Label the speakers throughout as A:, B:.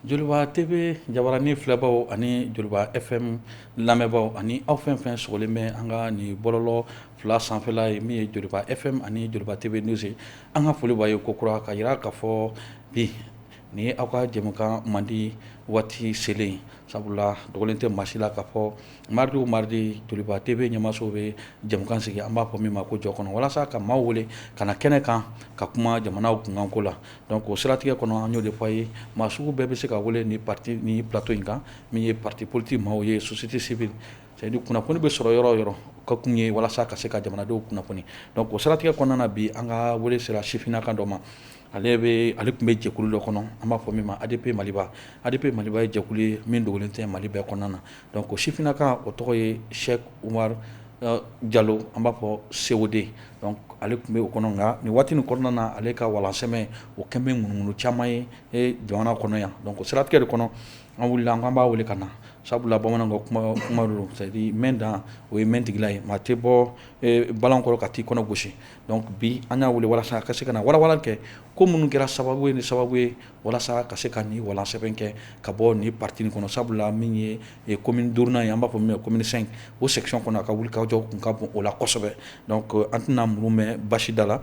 A: Joliba TV jabaranin filɛbaw ani Joliba FM lamɛnbaw ani aw fɛn fɛn sogolen bɛ an ka nin bɔlɔlɔ fila sanfɛla ye min ye Joliba FM ani Joliba TV News ye An ka foli b'aw ye kokura k'a yira k'a fɔ bi ni aw ka jɛmukan mandi waati selen sabula dogolen tɛ maa si la k'a fɔ mardi mardi Joliba TV ɲamaso bɛ jɛmukan sigi an b'a fɔ min ma ko jɔ kɔnɔ walasa ka maaw wele ka na kɛnɛ kan ka kuma jamanaw kunkanko la donc o siratigɛ kɔnɔ an y'o de fɔ a ye maa sugu bɛɛ bɛ se ka wele ni parti ni plateau in kan min ye parti politique maaw ye société civile C'est à dire kunnafoni bɛ sɔrɔ yɔrɔ yɔrɔ ka kun ye walasa ka se ka jamanadenw kunnafoni donc o siratigɛ kɔnɔna na bi an ka wele sera sifinnaka dɔ ma ale bɛ ale tun bɛ jɛkulu dɔ kɔnɔ an b'a fɔ min ma ADP Maliba ADP Maliba ye jɛkulu ye min dogolen tɛ mali bɛɛ kɔnɔna na donc o sifinnaka o tɔgɔ ye Cheikh Umar Jalo an b'a fɔ COD donc ale tun bɛ o kɔnɔ nka nin waati nin kɔnɔna na ale ka walansɛbɛn o kɛlen bɛ ŋunuŋunu caman ye jamana kɔnɔ yan donc o siratigɛ de kɔnɔ An wulila an k'an b'a wele ka na sabula bamanan ka kuma kuma don c'est à dire mɛ dan o ye mɛ tigila ye maa tɛ bɔ balan kɔrɔ ka t'i kɔnɔ gosi donc bi an y'a wele walasa a ka se ka na walawalali kɛ ko minnu kɛra sababu ye ni sababu ye walasa ka se ka ni walansɛbɛn kɛ ka bɔ ni parti in kɔnɔ sabula min ye commune duurunan ye an b'a fɔ min ma ko commune 5 o section kɔnɔ a ka wulikajɔ tun ka bon o la kosɛbɛ donc an tɛna muru mɛn basi da la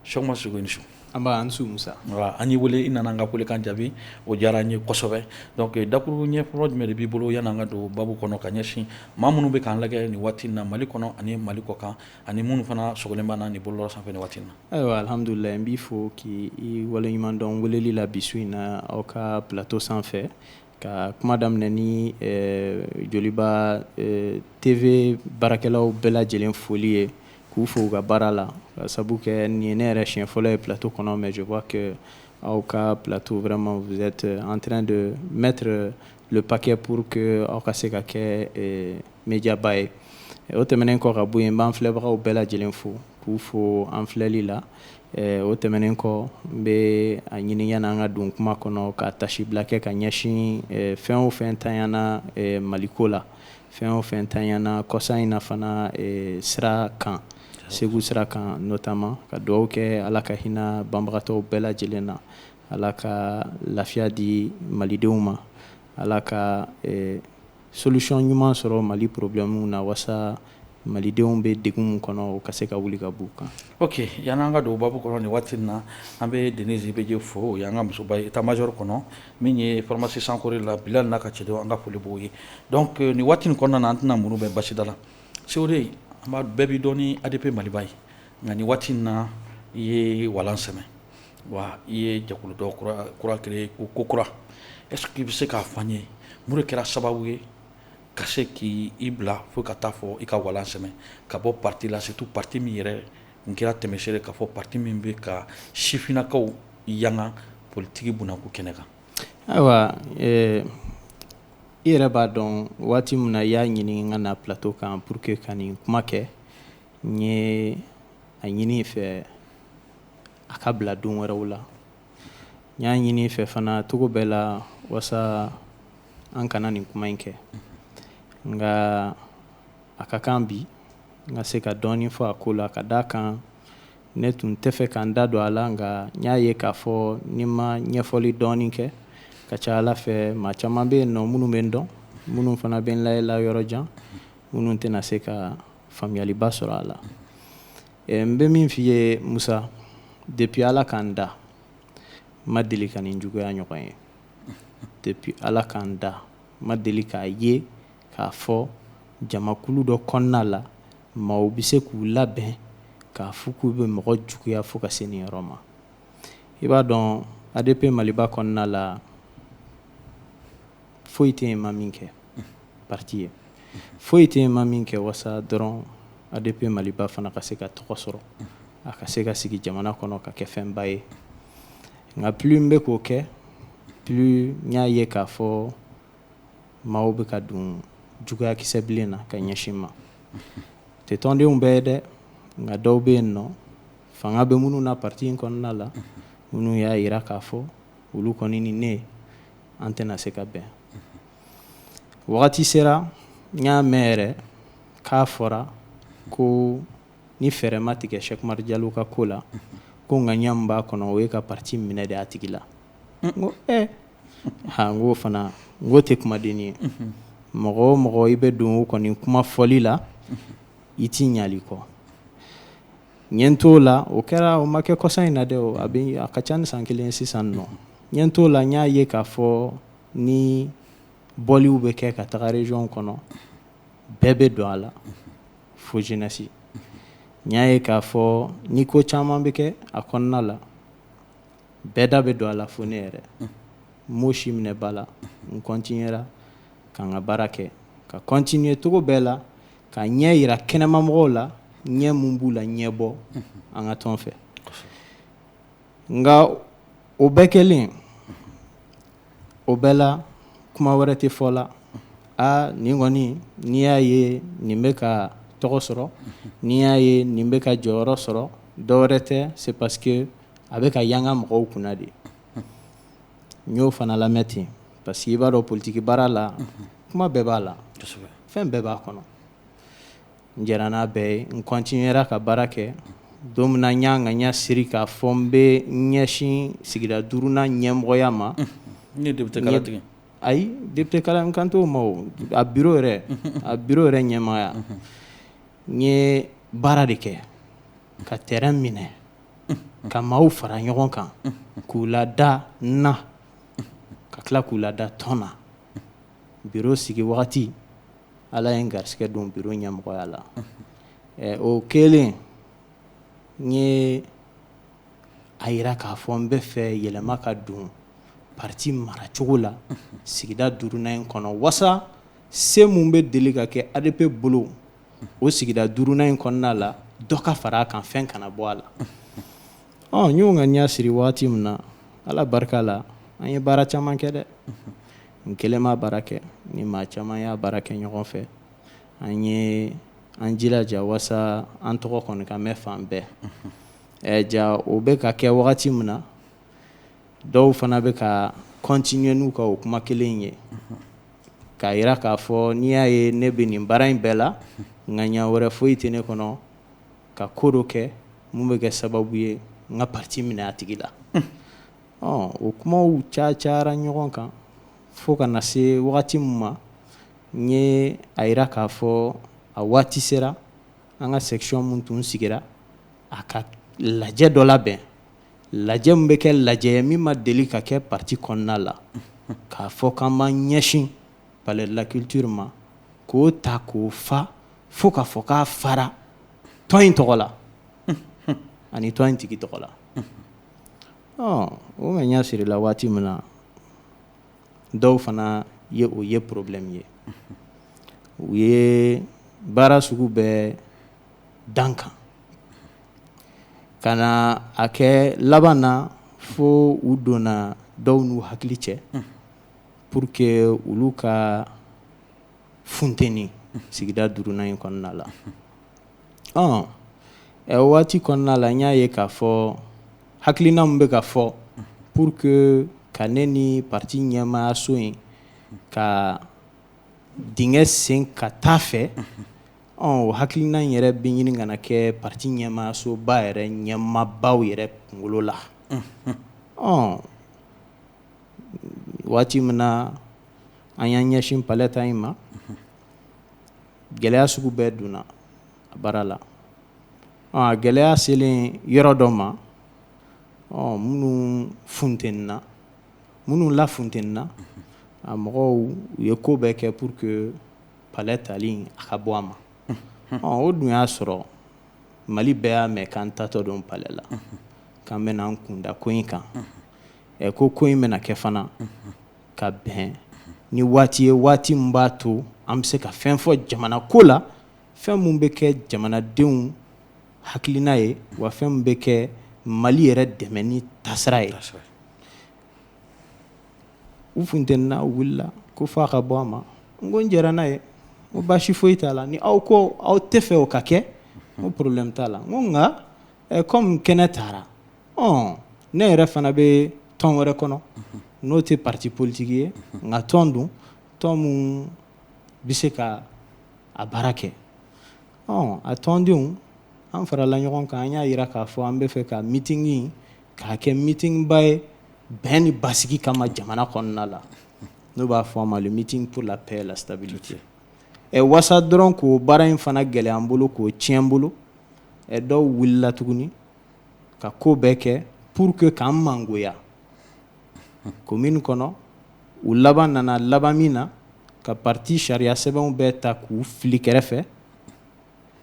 A: Cheikh Umar sogo i ni su anba an su
B: Musa an y'i wele i
A: nana an ka kulekan jaabi o diyara an ye kosɛbɛ donc dakuru ɲɛfɔlɔ jumɛn de b'i bolo yann'an ka don babu kɔnɔ ka ɲɛsin maa minnu bɛ k'an lajɛ nin waati na mali kɔnɔ ani mali kɔ kan ani minnu fana sogolen b'an na nin bɔlɔlɔ sanfɛ nin waati na ayiwa alihamdulilayi n b'i
B: fo k'i waleɲumandɔn weleli la bi su in na aw ka plateau sanfɛ Ka kuma daminɛ ni Joliba TV baarakɛlaw bɛɛ lajɛlen foli ye k'u fo u ka baara la k'a sabu kɛ nin ye ne yɛrɛ siɲɛ fɔlɔ ye plateau kɔnɔ mais je vois que aw ka plateau vraiment vous êtes en train de mettre le paquet pour que aw ka se ka kɛ médiaba ye o tɛmɛnen kɔ ka bɔ yen n b'an filɛbagaw bɛɛ lajɛlen fo k'u fo an filɛli la Ɛɛ o tɛmɛnen kɔ n bɛ a ɲini yanni an ka don kuma kɔnɔ ka tasibila kɛ ka ɲɛsin ɛɛ fɛn o fɛn tanyana ɛɛ Maliko la, fɛn o fɛn tanyana kɔsa in na fana ɛɛ sira kan, Segu sira kan notamment ka dugawu kɛ Ala ka hinɛ banbagatɔw bɛɛ lajɛlen na, Ala ka lafiya di Malidenw ma, Ala ka ɛɛ Solution ɲuman sɔrɔ Mali problème na wasa malidenw bɛ degun min kɔnɔ o ka se ka wuli ka b'u kan. Ok yani an ka don
A: o babu kɔnɔ nin waati in na, an bɛ Denise IBG fo, o y'an ka musoba ye état major kɔnɔ min ye pharmacie sankore la Bilali n'a ka cɛdenw an ka foli b'u ye donc nin waati in kɔnɔna na an tɛna muru bɛ basida la. COD bɛɛ b'i dɔn ni ADP Maliba ye nka nin waati in na i ye walan sɛmɛ. Wa i ye jɛkulu dɔ kura créer kokura est ce que i bɛ se k'a fɔ an ye mun de kɛra sababu ye ka se k'i i bila fo ka taa fɔ i ka walan sɛmɛ ka bɔ parti la surtout parti min yɛrɛ tun kɛra tɛmɛsere ye k'a fɔ parti min bɛ ka sifinnakaw yanga politique bunako kɛnɛ kan.
B: Ayiwa ɛɛ i yɛrɛ b'a dɔn waati min na i y'a ɲini n ka na plateau kan pour que ka nin kuma kɛ n ye a ɲini i fɛ a ka bila don wɛrɛw la n y'a ɲini i fɛ fana cogo bɛɛ la wasa an kana nin kuma in kɛ nka a ka kan bi n ka se ka dɔɔnin fɔ a ko la ka d'a kan ne tun tɛ fɛ ka n da don a la nka n y'a ye k'a fɔ ni n ma ɲɛfɔli dɔɔnin kɛ ka ca a la fɛ maa caman bɛ yen nɔ minnu bɛ n dɔn minnu fana bɛ n lajɛ la yɔrɔ jan minnu tɛna se ka faamuyaliba sɔrɔ a la eh, n bɛ min f'i ye Musa depuis Ala ka n da n ma deli ka nin juguya ɲɔgɔn ye depuis Ala ka n da n ma deli k'a ye k'a fɔ jamakulu dɔ kɔnɔna la maaw bɛ se k'u labɛn k'a fɔ k'u bɛ mɔgɔ juguya fo ka se nin yɔrɔ ma i b'a dɔn ADP Maliba kɔnɔna la foyi tɛ yen n ma min kɛ parti ye foyi tɛ yen n ma min kɛ wasa dɔrɔn ADP Maliba fana ka se ka tɔgɔ sɔrɔ a ka se ka sigi jamana kɔnɔ ka kɛ fɛnba ye nka plus n bɛ k'o kɛ plus n y'a ye k'a fɔ maaw bɛ ka don juguya kisɛ bilen na ka ɲɛsin n ma tɛ tɔndenw bɛɛ ye dɛ nka dɔw bɛ yen nɔ fanga bɛ minnu na parti in kɔnɔna la minnu y'a jira k'a fɔ olu kɔni ni ne an tɛna se ka bɛn wagati sera n y'a mɛn yɛrɛ k'a fɔra ko ni fɛɛrɛ ma tigɛ Cheick Oumar Diallo ka ko la ko ŋaniya min b'a kɔnɔ o ye ka parti minɛ de a tigi la n ko e ko fana n ko o tɛ kumaden ye mɔgɔ o mɔgɔ i bɛ don o kɔni kuma fɔli la i t'i ɲali kɔ N ye n t'o la o kɛra o ma kɛ kɔsa in na dɛ a bɛ a ka ca ni san kelen sisan nɔ n ye n t'o la n y'a ye k'a fɔ ni bɔliw bɛ kɛ ka taga région kɔnɔ bɛɛ bɛ don a la fo jeunesse n y'a ye k'a fɔ ni ko caman bɛ kɛ a kɔnɔna la bɛɛ da bɛ don a la fo ne yɛrɛ n m'o si minɛ ba la n continuera ka n ka baara kɛ ka continuer cogo bɛɛ la ka ɲɛ yira kɛnɛmamɔgɔw la ɲɛ min b'u laɲɛbɔ an ka tɔn fɛ nka o bɛɛ kɛlen o bɛɛ la kuma wɛrɛ tɛ fɔ la aa nin kɔni n'i y'a ye nin bɛ ka tɔgɔ sɔrɔ n'i y'a ye nin bɛ ka jɔyɔrɔ sɔrɔ dɔ wɛrɛ tɛ c'est parce que a bɛ ka yanga mɔgɔw kunna de n y'o fana lamɛn ten parce que i b'a dɔn politiki baara la kuma bɛɛ b'a la fɛn bɛɛ b'a kɔnɔ n jɛnna n'a bɛɛ ye n continuera ka baara kɛ don min na n y'a ŋaniya siri k'a fɔ n bɛ ɲɛsin sigida duurunan ɲɛmɔgɔya ma ne député
A: kala tigɛ ayi député
B: kala n kan t'o ma a bureau yɛrɛ a bureau yɛrɛ ɲɛmɔgɔya n ye baara de kɛ ka terrain minɛ ka maaw fara ɲɔgɔn kan k'u lada n na ka tila k'u lada tɔn na bureau sigi wagati ala ye n garisɛgɛ don bureau ɲɛmɔgɔya la o kɛlen n ye a yira k'a fɔ n bɛ fɛ yɛlɛma ka don parti maracogo la sigida duurunan in kɔnɔ walasa se min bɛ deli ka kɛ ADP bolo o sigida duurunan in kɔnɔna la dɔ ka fara a kan fɛn kana bɔ a la ɔ n y'o ŋaniya siri waati min na ala barika la an ye baara caman kɛ dɛ n kelen ma baara kɛ ni maa caman y'a baara kɛ ɲɔgɔn fɛ an ye an jilaja walasa an tɔgɔ kɔni ka mɛn fan bɛɛ ɛ ja o bɛ ka kɛ wagati min na dɔw fana bɛ ka continuer n'u ka o kuma kelen in ye k'a yira k'a fɔ n'i y'a ye ne bɛ nin baara in bɛɛ la ŋaniya wɛrɛ foyi tɛ ne kɔnɔ ka ko dɔ kɛ min bɛ kɛ sababu ye n ka parti minɛ a tigi la o kumaw ca cayara ɲɔgɔn kan fo ka na se wagati min ma n ye a yira k'a fɔ a waati sera an ka section min tun sigira a ka lajɛ dɔ labɛn lajɛ min bɛ kɛ lajɛ ye min ma deli ka kɛ parti kɔnɔna la, k'a fɔ k'an b'an ɲɛsin palais de la culture ma k'o ta k'o fa fo k'a fɔ k'a fara tɔn in tɔgɔ la ani tɔn in tigi tɔgɔ la, ɔ o ŋaniya sirila waati min na dɔw fana ye o ye problème ye u ye baara sugu bɛɛ dan kan ka na a kɛ laban na fo u donna dɔw n'u hakili cɛ pour que olu ka funteni sigida duurunan in kɔnɔna la ɔ waati kɔnɔna la n y'a ye k'a fɔ hakilina min bɛ ka fɔ pour que ka ne ni pati ɲɛmaayaso in ka dingɛ sen ka taa fɛ O hakilina in yɛrɛ bɛ ɲini ka na kɛ pati ɲɛmaasoba yɛrɛ ɲɛmaabaw yɛrɛ kunkolo la ɔ waati min na an y'an ɲɛsin palɛ ta in ma gɛlɛya sugu bɛɛ donna a baara la a gɛlɛya selen yɔrɔ dɔ ma ɔ minnu funtenina minnu lafuntenina a mɔgɔw u ye ko bɛɛ kɛ pour que palɛ tali a ka bɔ a ma o dun y'a sɔrɔ mali bɛɛ y'a mɛn k'an taatɔ don palɛ la k'an bɛna an kunda ko in kan ɛ ko ko in bɛna kɛ fana ka bɛn ni waati ye waati min b'a to an bɛ se ka fɛn fɔ jamana ko la fɛn min bɛ kɛ jamanadenw hakilina ye wa fɛn min bɛ kɛ mali yɛrɛ dɛmɛni taasira ye U funtenina u wulila ko f'a ka bɔ a ma n ko n jɛra n'a ye n ko baasi foyi t'a la ni aw ko aw tɛ fɛ o ka kɛ n ko problème t'a la n ko nka kɔmi kɛnɛ tara ɔ ne yɛrɛ fana bɛ tɔn wɛrɛ kɔnɔ n'o tɛ pati politiki ye nka tɔn don tɔn min bɛ se ka a baara kɛ ɔ a tɔndenw an farala ɲɔgɔn kan an y'a yira k'a fɔ an bɛ fɛ ka meeting K'a kɛ mitinba ye bɛn ni basigi kama jamana kɔnɔna la n'o b'a fɔ a ma le meeting pour la paix et la stabilité ɛ wasa dɔrɔn k'o baara in fana gɛlɛya an bolo k'o tiɲɛ an bolo ɛ dɔw wulila tuguni ka ko bɛɛ kɛ pour que k'an mangoya commune kɔnɔ u laban nana laban min na ka pati sariya sɛbɛnw bɛɛ ta k'u fili kɛrɛfɛ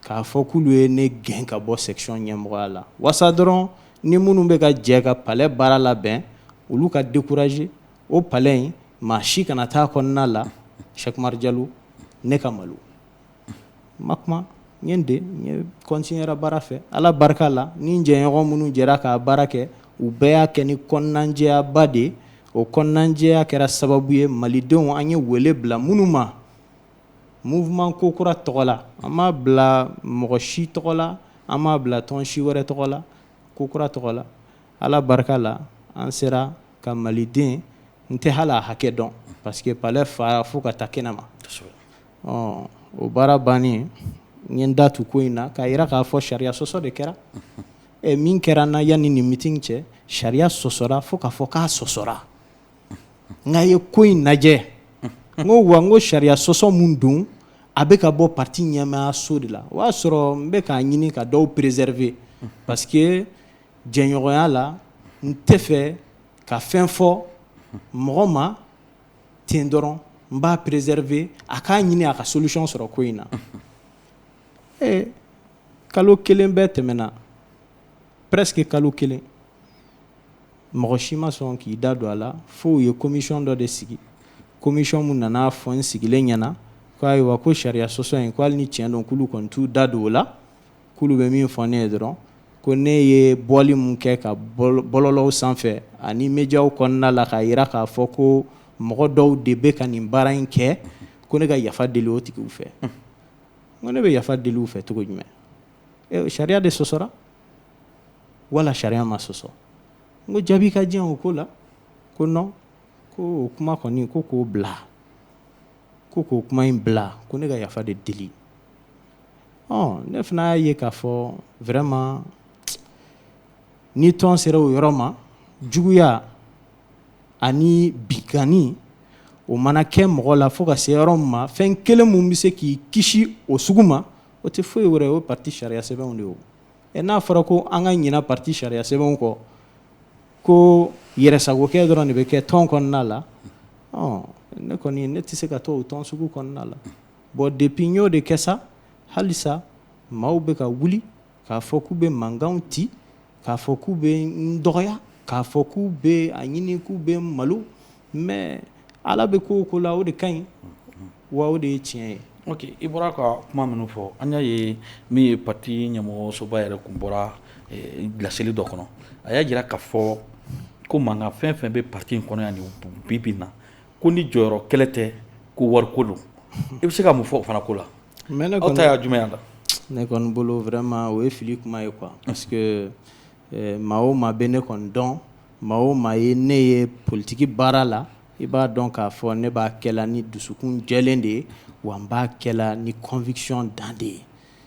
B: k'a fɔ k'olu ye ne gɛn ka bɔ section ɲɛmɔgɔya la wasa dɔrɔn ni minnu bɛ ka jɛ ka palais baara labɛn olu ka décourager o palais in maa si kana taa kɔnɔna la Cheick Umar Jalo ne ka malo n ma kuma n ye n de n ye continuera baara fɛ Ala barika la ni n jɛɲɔgɔn minnu jɛra k'a baara kɛ u bɛɛ y'a kɛ ni kɔnɔnajɛyaba de ye o kɔnɔnajɛya kɛra sababu ye malidenw an ye wele bila minnu ma Mouvement ko kura tɔgɔ la, an m'a bila mɔgɔ si tɔgɔ la, an m'a bila tɔn si wɛrɛ tɔgɔ la, ko kura tɔgɔ la, Ala barika la, an sera ka Maliden, n tɛ hali a hakɛ dɔn parce que palais fara fo ka taa kɛnɛ ma, kosɛbɛ, ɔ o baara bannen, n ye n da tu ko in na k'a yira k'a fɔ sariya sɔsɔ de kɛra, ɛ min kɛra n na yanni nin meeting cɛ, sariya sɔsɔra fo k'a fɔ k'a sɔsɔra n ye ko in lajɛ n ko wa n ko sariya sɔsɔ min don a bɛ ka bɔ parti ɲɛmaayaso de la o y'a sɔrɔ n bɛ k'a ɲini ka dɔw préserver parce que jɛɲɔgɔnya la n tɛ fɛ ka fɛn fɔ mɔgɔ ma ten dɔrɔn n b'a préserver a k'a ɲini a ka solution sɔrɔ ko in na ee kalo kelen bɛɛ tɛmɛna presque kalo kelen mɔgɔ si ma sɔn k'i da don a la fo u ye commission dɔ de sigi commission min nana a fɔ n sigilen ɲɛna ko ayiwa ko sariya sɔsɔ in ko hali ni tiɲɛ don k'olu kɔni t'u da don o la k'olu bɛ min fɔ ne ye dɔrɔn ko ne ye bɔli min kɛ ka bɔlɔlɔw sanfɛ ani médiaw kɔnɔna la k'a yira k'a fɔ ko mɔgɔ dɔw de bɛ ka nin baara in kɛ ko ne ka yafa deli o tigiw fɛ n ko ne bɛ yafa deli u fɛ cogo jumɛn sariya de sɔsɔra wala sariya ma sɔsɔ n ko jaabi ka di yan o ko la ko non ko o kuma kɔni ko k'o bila ko k'o kuma in bila ko ne ka yafa de deli ɔ ne fana y'a ye k'a fɔ vraiment ni tɔn sera o yɔrɔ ma juguya ani binkanni o mana kɛ mɔgɔ la fo ka se yɔrɔ min ma fɛn kelen min bɛ se k'i kisi o sugu ma o tɛ foyi wɛrɛ o ye parti sariya sɛbɛnw de ye o ɛ n'a fɔra ko an ka ɲina parti sariya sɛbɛnw kɔ ko yɛrɛsagokɛ dɔrɔn de bɛ kɛ tɔn kɔnɔna la ɔ ne kɔni ne tɛ se ka to o tɔn sugu kɔnɔna la bon depuis n y'o de kɛ sa halisa maaw bɛ ka wuli k'a fɔ k'u bɛ mankanw ci k'a fɔ k'u bɛ n dɔgɔya k'a fɔ k'u bɛ a ɲini k'u bɛ n malo mais Ala bɛ ko o ko la o de ka ɲi wa o de ye tiɲɛ ye. Ok i bɔra ka
A: kuma minnu fɔ an y'a ye min ye parti ɲɛmɔgɔsoba yɛrɛ kun bɔra laseli dɔ kɔnɔ a y'a jira k'a fɔ ko mankan fɛn o fɛn bɛ parti in kɔnɔ yan bi bi in na ko ni jɔyɔrɔ kɛlɛ tɛ ko wariko don i bɛ se ka mun fɔ o fana ko la aw ta y'a jumɛn ye a la? Ne kɔni bolo
B: vraiment o ye fili kuma ye quoi parce que maa o maa bɛ ne kɔni dɔn Maa o maa ye ne ye politiki baara la i b'a dɔn k'a fɔ ne b'a kɛla ni dusukun jɛlen de ye wa n b'a kɛla ni conviction dan de ye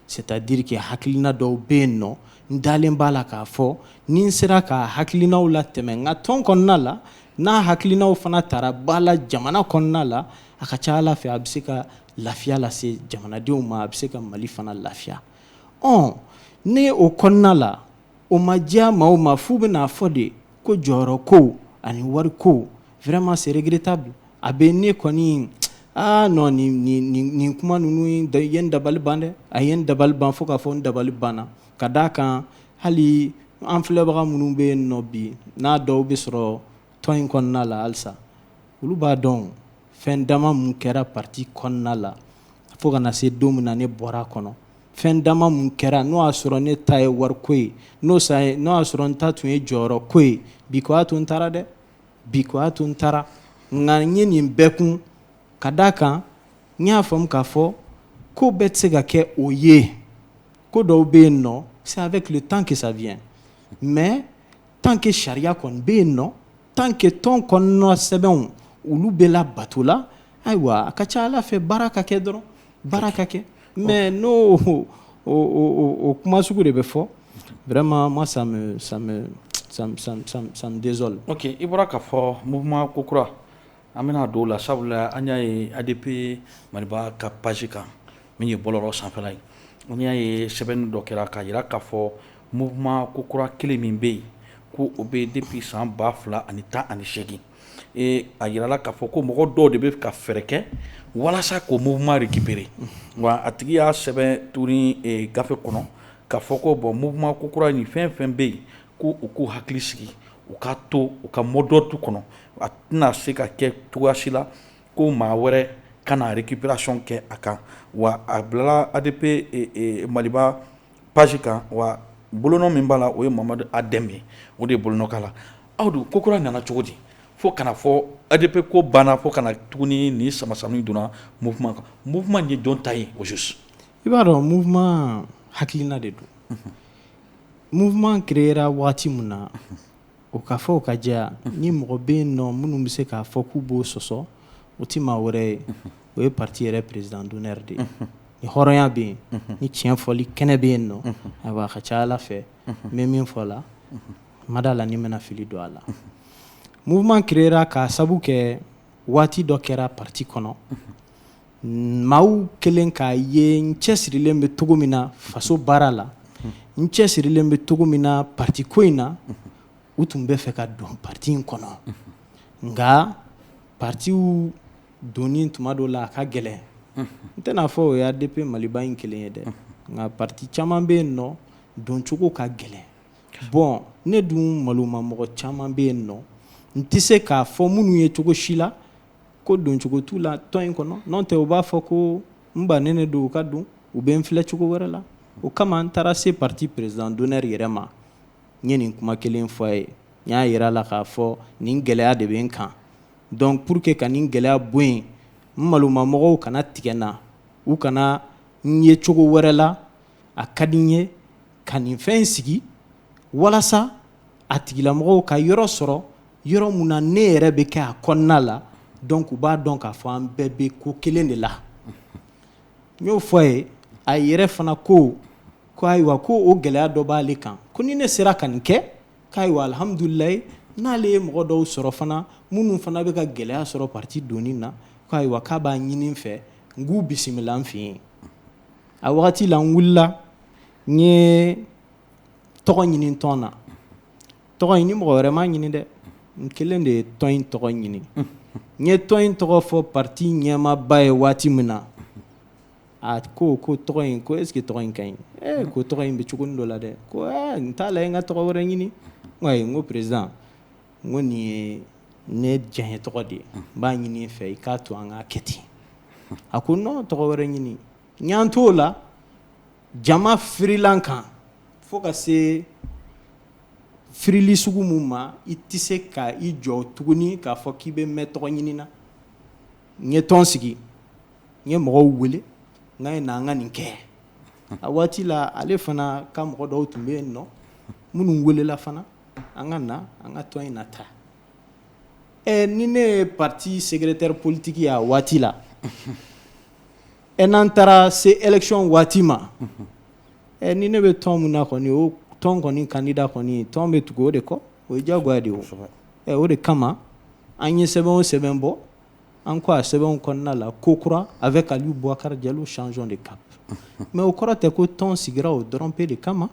B: c'est-à-dire que hakilina dɔw bɛ yen nɔ n dalen b'a la k'a fɔ ni n sera k'a hakilinaw latɛmɛ n ka tɔn kɔnɔna la n'a hakilinaw fana tara ba la jamana kɔnɔna la a ka ca ala fɛ a bɛ se ka lafiya lase jamanadenw ma a bɛ se ka mali fana lafiya ɔ ne o kɔnɔna la o ma diya maa o ma f'u bɛn'a fɔ de ko jɔyɔrɔ ko ani wari ko vraiment c'est regrettable a bɛ ne kɔni aa non nin kuma ninnu ye n dabali ban dɛ a ye n dabali ban fo k'a fɔ n dabali banna ka d'a kan hali an filɛbaga minnu bɛ yen nɔ bi n'a dɔw bɛ sɔrɔ tɔn in kɔnɔna la halisa olu b'a dɔn fɛn dama minnu kɛra parti kɔnɔna la fo ka na se don min na ne bɔra a kɔnɔ fɛn dama minnu kɛra n'o y'a sɔrɔ ne ta ye wari ko ye n'o y'a sɔrɔ n ta tun ye jɔyɔrɔ ko ye bi ko y'a to n taara dɛ bi ko y'a to n taara nka n ye nin bɛɛ kun ka d'a kan n y'a faamu k'a fɔ ko bɛɛ tɛ se ka kɛ o ye ko dɔw bɛ yen nɔ c'est avec le temps que ça vient mais tant que sariya kɔni bɛ yen nɔ tant que tɔn kɔnɔna sɛbɛnw olu bɛ labato la ayiwa a ka ca ala fɛ baara ka kɛ dɔrɔn baara ka kɛ mais n'o o kuma sugu de bɛ fɔ vraiment moi ça me ça me désole ok i bɔra k'a fɔ
A: mouvement ko kura An bɛna don a la sabula an y'a ye ADP Maliba ka page kan min ye bɔlɔlɔ sanfɛla ye an y'a ye sɛbɛnni dɔ kɛra k'a jira k'a fɔ mouvement ko kura kelen min bɛ yen ko o bɛ depuis san ba fila ani tan ani segin ee a jirala k'a fɔ ko mɔgɔ dɔw de bɛ ka fɛɛrɛ kɛ walasa k'o mouvement récupérer wa a tigi y'a sɛbɛn tuguni gafe kɔnɔ k'a fɔ ko bon mouvement ko kura ni fɛn fɛn bɛ yen ko u k'u hakili sigi u ka to u ka mot d'ordre kɔnɔ a tɛna se ka kɛ cogoya si la ko maa wɛrɛ ka na récupération kɛ a kan wa a bilala ADP Maliba page kan wa bolonɔ min b'a la o ye mamadu a dɛmɛ ye o de ye bolonɔ k'a la aw dun ko kura nana cogo di fo ka na fɔ ADP ko banna fo ka na tuguni ni samasama nin donna mouvement kan mouvement ye jɔn ta ye au juste i b'a dɔn
B: mouvement hakilina de don Mouvement créera waati min na, o ka fɔ o ka jɛya, ni mɔgɔ bɛ yen nɔ minnu bɛ se k'a fɔ k'u b'o sɔsɔ, o tɛ maa wɛrɛ ye, o ye parti yɛrɛ président d'honneur de ye, ni hɔrɔnya bɛ yen, ni tiɲɛ fɔli kɛnɛ bɛ yen nɔ, ayiwa a ka ca Ala fɛ, n bɛ min fɔ la, n ma d'a la ni n bɛna fili don a la, mouvement créera k'a sabu kɛ waati dɔ kɛra parti kɔnɔ, Maaw kɛlen k'a ye n cɛ sirilen bɛ cogo min na faso baara la n cɛ sirilen bɛ cogo min na patiko in na u tun bɛ fɛ ka don pati in kɔnɔ nka patiw donni tuma dɔ la a ka gɛlɛn n tɛna a fɔ o ye ADP Maliba in kelen ye dɛ nka pati caman bɛ yen nɔ doncogo ka gɛlɛn bon ne dun malomamɔgɔ caman bɛ yen nɔ n tɛ se k'a fɔ minnu ye cogo si la ko doncogo t'u la tɔn in kɔnɔ n'o tɛ u b'a fɔ ko n bannen de don u ka don u bɛ n filɛ cogo wɛrɛ la o kama n taara se parti président d'honneur yɛrɛ ma n ye nin kuma kelen fɔ a ye n y'a yira a la k'a fɔ nin gɛlɛya de bɛ n kan donc pour que ka nin gɛlɛya bɔ yen n malomamɔgɔw kana tigɛ n na u kana n ye cogo wɛrɛ la a ka di n ye ka nin fɛn in sigi walasa a tigilamɔgɔw ka yɔrɔ sɔrɔ yɔrɔ min na ne yɛrɛ bɛ kɛ a kɔnɔna la donc u b'a dɔn k'a fɔ an bɛɛ bɛ ko kelen de la n y'o fɔ a ye a yɛrɛ fana ko ko ayiwa ko o gɛlɛya dɔ b'ale kan ko ni ne sera ka nin kɛ k'ayiwa alihamdulilayi n'ale ye mɔgɔ dɔw sɔrɔ fana minnu fana bɛ ka gɛlɛya sɔrɔ pati donni na k'ayiwa k'a b'a ɲini n fɛ n k'u bisimila n fɛ yen a wagati la n wulila n tɔgɔ ɲini tɔn na tɔgɔ in ni mɔgɔ wɛrɛ m'a ɲini dɛ n kelen de ye tɔn in tɔgɔ ɲini n ye tɔn in tɔgɔ fɔ pati ɲɛmaaba ye waati min na a ko ko tɔgɔ in ko est-ce que tɔgɔ in ka ɲi ee ko tɔgɔ in bɛ cogonin dɔ la dɛ ko n t'a la n ka tɔgɔ wɛrɛ ɲini n ko président n ko nin ye ne diyanye tɔgɔ de ye n b'a ɲini i fɛ i k'a to an k'a kɛ ten a ko non tɔgɔ wɛrɛ ɲini N y'an t'o la jama firila n kan fo ka se firili sugu min ma i tɛ se ka i jɔ tuguni k'a fɔ k'i bɛ mɛn tɔgɔ ɲini na n ye tɔn sigi n ye mɔgɔw wele n k'a ye na an ka nin kɛ a waati la ale fana ka mɔgɔ dɔw tun bɛ yen nɔ minnu welela fana an ka na an ka tɔn in nataa Ɛ ni ne ye pati secrétaire politique ye a waati la ɛ n'an taara se élection waati ma ɛ ni ne bɛ tɔn min na kɔni o tɔn kɔni kandida kɔni tɔn bɛ tugu o de kɔ o ye jagoya de ye o de kama an ye sɛbɛn o sɛbɛn bɔ an ko a sɛbɛnw kɔnɔna la ko kura avec Aliou Boubacar Diallo changeons de cap mais o kɔrɔ tɛ ko tɔn sigira o dɔrɔnpe de kama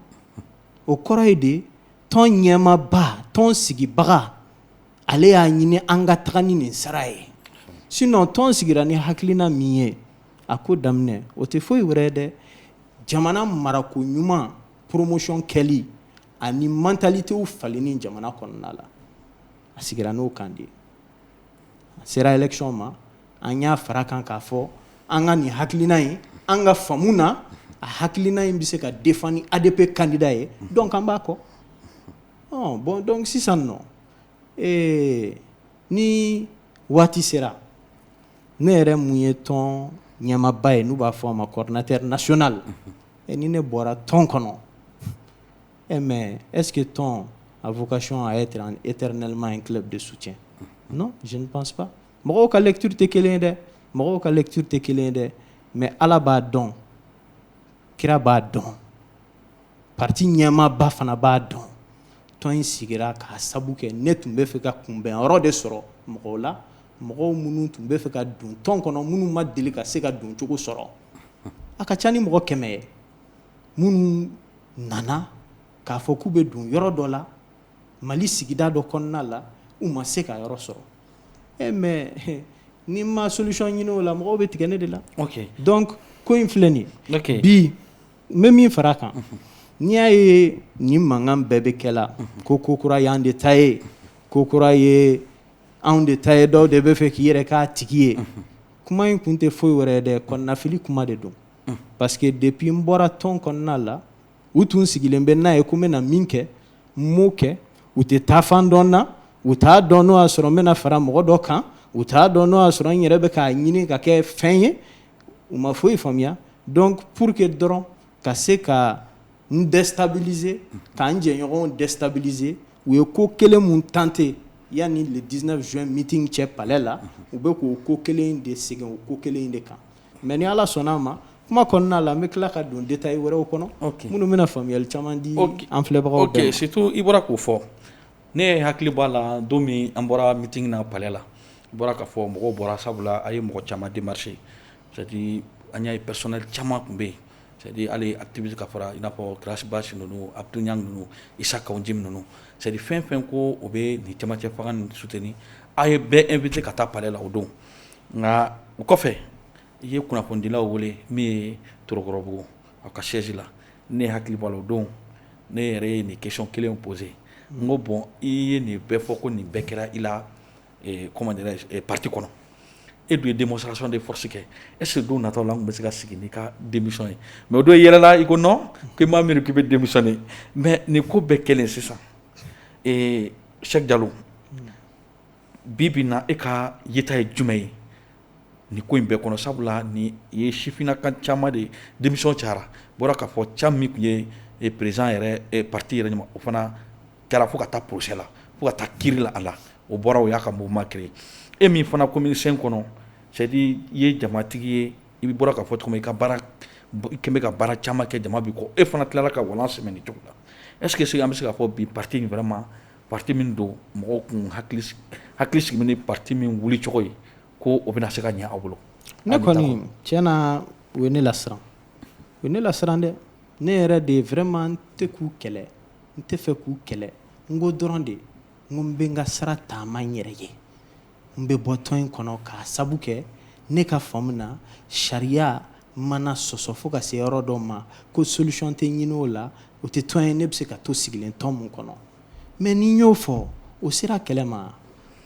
B: o kɔrɔ ye de tɔn ɲɛmaaba tɔn sigibaga ale y'a ɲini an ka taga ni nin sara ye sinon tɔn sigira ni hakilina min ye a ko daminɛ o tɛ foyi wɛrɛ ye dɛ jamana marako ɲuman poromosiyɔn kɛli ani mantalitew falenni jamana kɔnɔna la a sigira n'o kan de ye a sera election ma an y'a fara kan k'a fɔ an ka nin hakilina in an ka faamu na a hakilina in bɛ se ka défendre ni ADP candidat ye donc an b'a kɔ ɔ bon donc sisan nɔ ee ni waati sera ne yɛrɛ mun ye tɔn ɲɛmaaba ye n'u b'a fɔ a ma coordinateur national ni ne bɔra tɔn kɔnɔ E mais est-ce que tɔn a vocation à être éternellement un club de soutien non je ne pense pas mɔgɔw ka lecture tɛ kelen ye dɛ mɔgɔw ka lecture tɛ kelen ye dɛ mais ala b'a dɔn kira b'a dɔn parti ɲɛmaaba fana b'a dɔn tɔn in sigira k'a sabu kɛ ne tun bɛ fɛ ka kunbɛn yɔrɔ de sɔrɔ mɔgɔw la mɔgɔw minnu tun bɛ fɛ ka don tɔn kɔnɔ minnu ma deli ka se ka doncogo sɔrɔ a ka ca ni mɔgɔ kɛmɛ ye minnu nana k'a fɔ k'u bɛ don yɔrɔ dɔ la mali sigida dɔ kɔnɔna la u ma se ka yɔrɔ sɔrɔ e mais ni n ma solution ɲini o la mɔgɔw bɛ tigɛ ne de la donc ko in filɛ nin ye bi n bɛ min fara a kan n'i y'a ye nin mankan bɛɛ bɛ kɛ la ko ko kura ye an de ta ye ko kura ye anw de ta ye dɔw de bɛ fɛ k'i yɛrɛ k'a tigi ye kuma in kun tɛ foyi wɛrɛ dɛ kɔnɔnafili kuma de don parce que depuis n bɔra tɔn kɔnɔna la u tun sigilen bɛ n'a ye ko n bɛna min kɛ n m'o kɛ u tɛ taafan dɔn n na u t'a dɔn n'o y'a sɔrɔ n bɛna fara mɔgɔ dɔ kan u t'a dɔn n'o y'a sɔrɔ n yɛrɛ bɛ k'a ɲini ka kɛ fɛn ye u ma foyi faamuya donc pour que dɔrɔn ka se ka n destabiliser ka n jɛɲɔgɔnw destabiliser u ye ko kelen mun tenter yanni le 19 juin meeting cɛ palais la u bɛ k'o ko kelen in de segin o ko kelen in de kan. Mais ni ala sɔnna a ma kuma kɔnɔna la n bɛ tila ka don détail wɛrɛw kɔnɔ minnu bɛna faamuyali caman di an filɛbagaw bɛɛ ma surtout i bɔra k'o fɔ
A: ne ye hakili b'a la don min an bɔra meeting na palais la i bɔra k'a fɔ mɔgɔw bɔra sabula a ye mɔgɔ caman démarcher c'est-à-dire an y'a ye personnel caman tun bɛ yen c'est-à-dire hali activiste ka fara i n'a fɔ Ras Bath ninnu Abdoul Niang ninnu Issa Kaou Djim ninnu c'est-à-dire fɛn fɛn ko o bɛ nin camancɛ fanga soutenir a ye bɛɛ inviter ka taa palais la o don nka o kɔfɛ i ye kunnafonidilaw wele min ye torokɔrɔbugu a ka siège la ne hakili b'a la o don ne yɛrɛ ye nin question kelen poser n ko bon i ye nin bɛɛ fɔ ko nin bɛɛ kɛra i la parti kɔnɔ e dun ye démonstration de force kɛ est-ce que don nataw la an tun bɛ se ka sigi n'i ka démission ye mais o don i yɛlɛla i ko non k'i ma miiri k'i bɛ démissionner mais nin ko bɛɛ kɛlen sisan Cheick Diallo bi bi in na e ka yeta ye jumɛn ye nin ko in bɛɛ kɔnɔ sabula ni ye sifinna ka ca de ye démission ca bɔra k'a fɔ cɛ min tun ye président parti yɛrɛ ɲɛma o fana kɛra fo ka taa procès la fo ka taa kiiri la a la o bɔra o y'a ka mouvement créé e min fana commune cinq kɔnɔ c'est à dire i ye jamatigi ye i bɛ bɔra ka fɔ tuma i ka kɛmɛ ka baara caman kɛ jama b'i kɔ e fana tilala ka walan sɛmɛ nin cogo la est ce que an bɛ se k'a fɔ bi parti in vraiment Parti min don mɔgɔw k'u hakili sigi ni parti min wuli cogo ye ko o bɛna se ka ɲɛ aw bolo ne kɔni
B: tiɲɛ na u ye ne lasiran u ye ne lasiran dɛ ne yɛrɛ de vraiment n tɛ k'u kɛlɛ n tɛ fɛ k'u kɛlɛ n ko dɔrɔn de n ko n bɛ n ka sira taama n yɛrɛ ye n bɛ bɔ tɔn in kɔnɔ k'a sabu kɛ ne ka faamu na sariya mana sɔsɔ fo ka se yɔrɔ dɔ ma ko solution tɛ ɲini o la o tɛ tɔn ye ne bɛ se ka to sigilen tɔn min kɔnɔ mais ni n y'o fɔ o sera kɛlɛ ma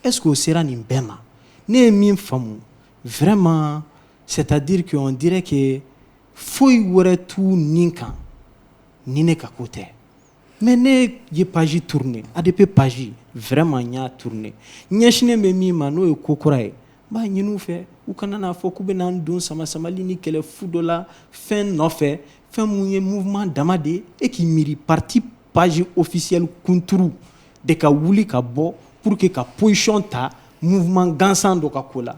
B: est ce que o sera nin bɛɛ ma ne ye min faamu vraiment c'est à dire que on dirait que foyi wɛrɛ t'u ni kan ni ne ka ko tɛ Mais ne ye page tourner ADP page vraiment n y'a tourner ɲɛsinnen bɛ min ma n'o ye ko kura ye n b'a ɲini u fɛ u kana n'a fɔ k'u bɛna n don sama samali ni kɛlɛ fu dɔ la fɛn nɔfɛ fɛn min ye mouvement dama de ye e k'i miiri parti page officielle kunturu de ka wuli ka bɔ pour que ka position ta mouvement gansan dɔ ka ko la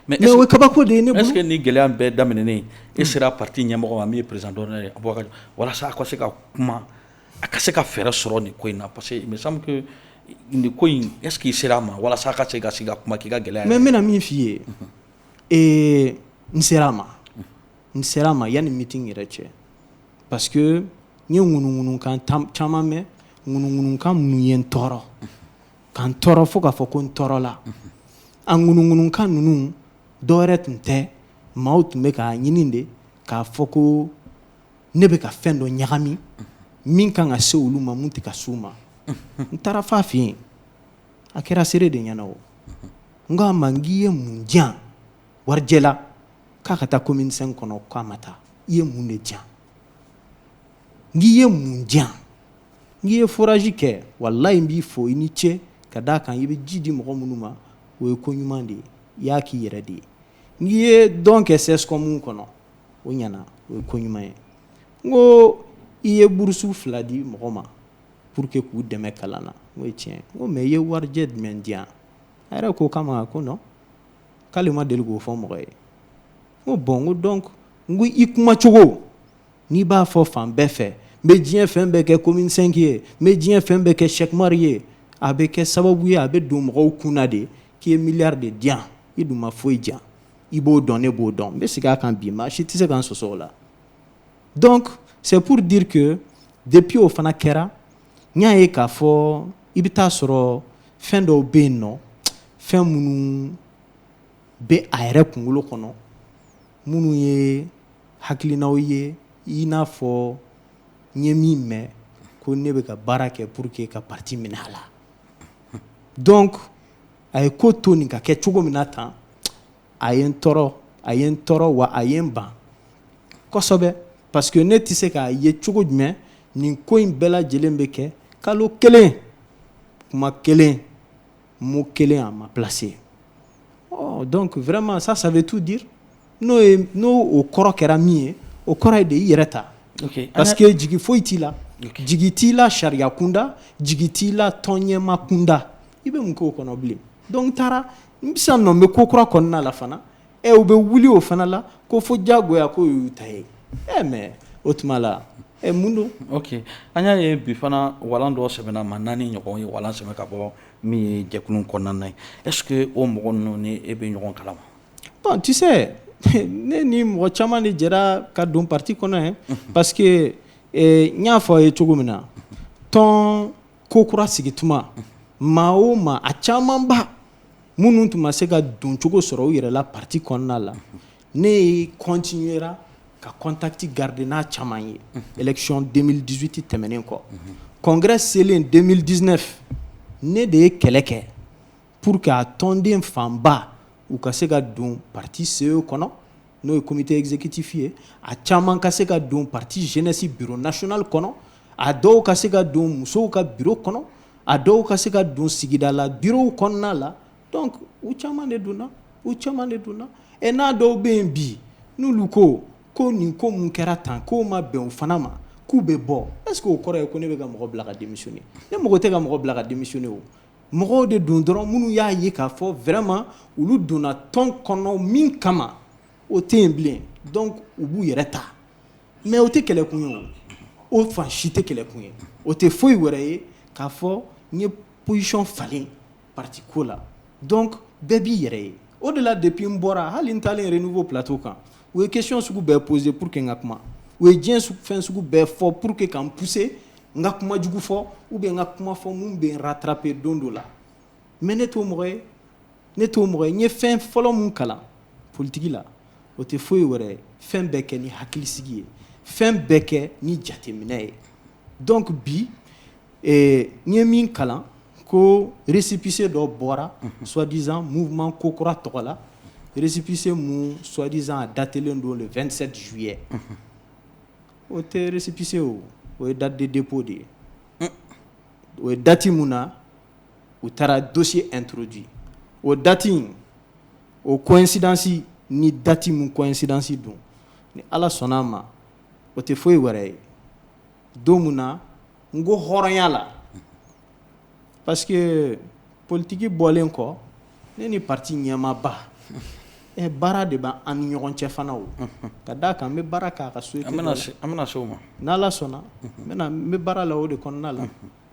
B: mais o ye kabako de ye ne bolo, est ce que nin gɛlɛya in bɛɛ
A: daminɛnen e sera parti ɲɛmɔgɔ ma min ye président d'honneur ye Abubakari walasa a ka se ka kuma a ka se ka fɛɛrɛ sɔrɔ nin ko in na parce que il me semble que nin ko in est ce que i sera a ma walasa a ka se ka sigi ka kuma k'i ka gɛlɛya mais n bɛna min f'i ye
B: ee n sera a ma n sera a ma yanni meeting yɛrɛ cɛ parce que N ye ŋunuŋunukan caman mɛn ŋunuŋunukan minnu ye n tɔɔrɔ ka n tɔɔrɔ fo k'a fɔ ko n tɔɔrɔla a ŋunuŋunukan ninnu dɔw yɛrɛ tun tɛ maaw tun bɛ k'a ɲini de k'a fɔ ko ne bɛ ka fɛn dɔ ɲagami min ka kan ka se olu ma min tɛ ka s'u ma n taara f'a fɛ yen a kɛra seere de ɲɛna o n k'a ma n k'i ye mun di yan warijɛ la k'a ka taa commune cinq kɔnɔ k'a ma taa i ye mun de di yan n k'i ye mun di yan n k'i ye forage kɛ walayi n b'i fo i ni ce ka d'a kan i bɛ ji di mɔgɔ minnu ma o ye ko ɲuman de ye i y'a k'i yɛrɛ de ye n k'i ye don kɛ CSCOM kɔnɔ o ɲɛna o ye ko ɲuman ye n ko i ye bourse fila di mɔgɔ ma pour que k'u dɛmɛ kalan na n k'o ye tiɲɛ n ko mais i ye warijɛ jumɛn di yan a yɛrɛ k'o kama ko k'ale ma deli k'o fɔ mɔgɔ ye Ko bon ko donc n ko i kuma cogo n'i b'a fɔ fan bɛɛ fɛ n bɛ diɲɛ fɛn bɛɛ kɛ commune cinq ye n bɛ diɲɛ fɛn bɛɛ kɛ Cheick Oumar ye a bɛ kɛ sababu ye a bɛ don mɔgɔw kun na de k'i ye milliard de di yan i dun ma foyi di yan i b'o dɔn ne b'o dɔn n bɛ segin a kan bi maa si tɛ se k'an sɔsɔ o la donc c'est pour dire que depuis o fana kɛra n y'a ye k'a fɔ i bɛ taa sɔrɔ fɛn dɔw bɛ yen nɔ fɛn minnu bɛ a yɛrɛ kunkolo kɔnɔ minnu ye hakilinaw ye i n'a fɔ n ye min mɛn ko ne bɛ ka baara kɛ pour que ka parti minɛ a la donc a ye ko to nin ka kɛ cogo min na tan a ye n tɔɔrɔ a ye n tɔɔrɔ wa a ye n ban kosɛbɛ parce que ne tɛ se k'a ye cogo jumɛn nin ko in bɛɛ lajɛlen bɛ kɛ kalo kelen kuma kelen mot kelen a ma placer ɔ donc vraiment ça ça veut tout dire n'o n'o o kɔrɔ kɛra min ye o kɔrɔ ye de i yɛrɛ ta parce que jigi foyi t'i la jigi t'i la sariya kunda jigi t'i la tɔn ɲɛmaa kunda i bɛ mun k'o kɔnɔ bilen donc taara n bɛ sisan nɔ n bɛ ko kura kɔnɔna la fana ɛ u bɛ wuli o fana la ko fo diyagoya ko y'u ta ye ɛ mais o tuma la ɛ mun don ok an y'a ye
A: bi fana walan dɔ sɛbɛnna ma naani ɲɔgɔn ye walan sɛbɛn ka bɔ min ye jɛkulu kɔnɔna na ye est ce que o mɔgɔ ninnu ni e bɛ ɲɔgɔn kalama bon
B: tu sais ne ni mɔgɔ caman de jɛra ka don parti kɔnɔ ye parce que eh, n y'a fɔ a ye cogo min na tɔn ko kura sigi tuma maa o maa a camanba minnu tun ma se ka doncogo sɔrɔ u yɛrɛ la parti kɔnɔna la ne ye continuera ka contact garder n'a caman ye élection deux mille dix-huit tɛmɛnen kɔ congrès selen deux mille dix-neuf ne de ye kɛlɛ kɛ pour que a tɔnden fanba u ka se ka don parti CE kɔnɔ n'o ye comité exécutif ye a caman ka se ka don parti jeunesse bureau national kɔnɔ a dɔw ka se ka don musow ka bureau kɔnɔ a dɔw ka se ka don sigida la bureau kɔnɔna la donc u caman de donna u caman de donna ɛ n'a dɔw bɛ yen bi n'olu ko ko nin ko mun kɛra tan ko ma bɛn o fana ma k'u bɛ bɔ est ce que o kɔrɔ ye ko ne bɛ ka mɔgɔ bila ka démissionner ne mɔgɔ tɛ ka mɔgɔ bila ka démissionner o mɔgɔw de don dɔrɔn minnu y'a ye k'a fɔ vraiment olu donna tɔn kɔnɔ min kama o tɛ yen bilen donc u b'u yɛrɛ ta mais o tɛ kɛlɛkun ye o fan si tɛ kɛlɛkun ye o tɛ foyi wɛrɛ ye k'a fɔ n ye position falen parti ko la donc bɛɛ b'i yɛrɛ ye o de la depuis n bɔra hali n taalen Renouveau plateau kan u ye question sugu bɛɛ poser pour que n ka kuma u ye diɲɛ fɛn sugu bɛɛ fɔ pour que ka n pousser n ka kuma jugu fɔ ou bien n ka kuma fɔ minnu bɛ n rattraper don dɔ la mais ne t'o mɔgɔ ye ne t'o mɔgɔ ye n ye fɛn fɔlɔ min kalan politigi la o tɛ foyi wɛrɛ ye fɛn bɛɛ kɛ ni hakilisigi ye fɛn bɛɛ kɛ ni jateminɛ ye donc bi eh, n ye min kalan ko récépissé dɔ bɔra mhm. soi-disant mouvement ko kura tɔgɔ la récépissé mun soi-disant a datelen don le 27 juillet mhm. o tɛ récépissé o o ye date de dépôt de ye mm. o ye dati mun na u taara dossier introduit o dati in o coïncidence ni dati min coïncidence don ni ala sɔnna a ma o tɛ foyi wɛrɛ ye don min na n ko hɔrɔnya la parce que politigi bɔlen kɔ ne ni pati ɲɛmaaba ɛ baara de bɛ an ni ɲɔgɔn cɛ fana o ka d' a kan n bɛ baara kɛ a ka société an bɛna se
A: o ma n'ala sɔnna
B: n bɛ baara la o de kɔnɔna la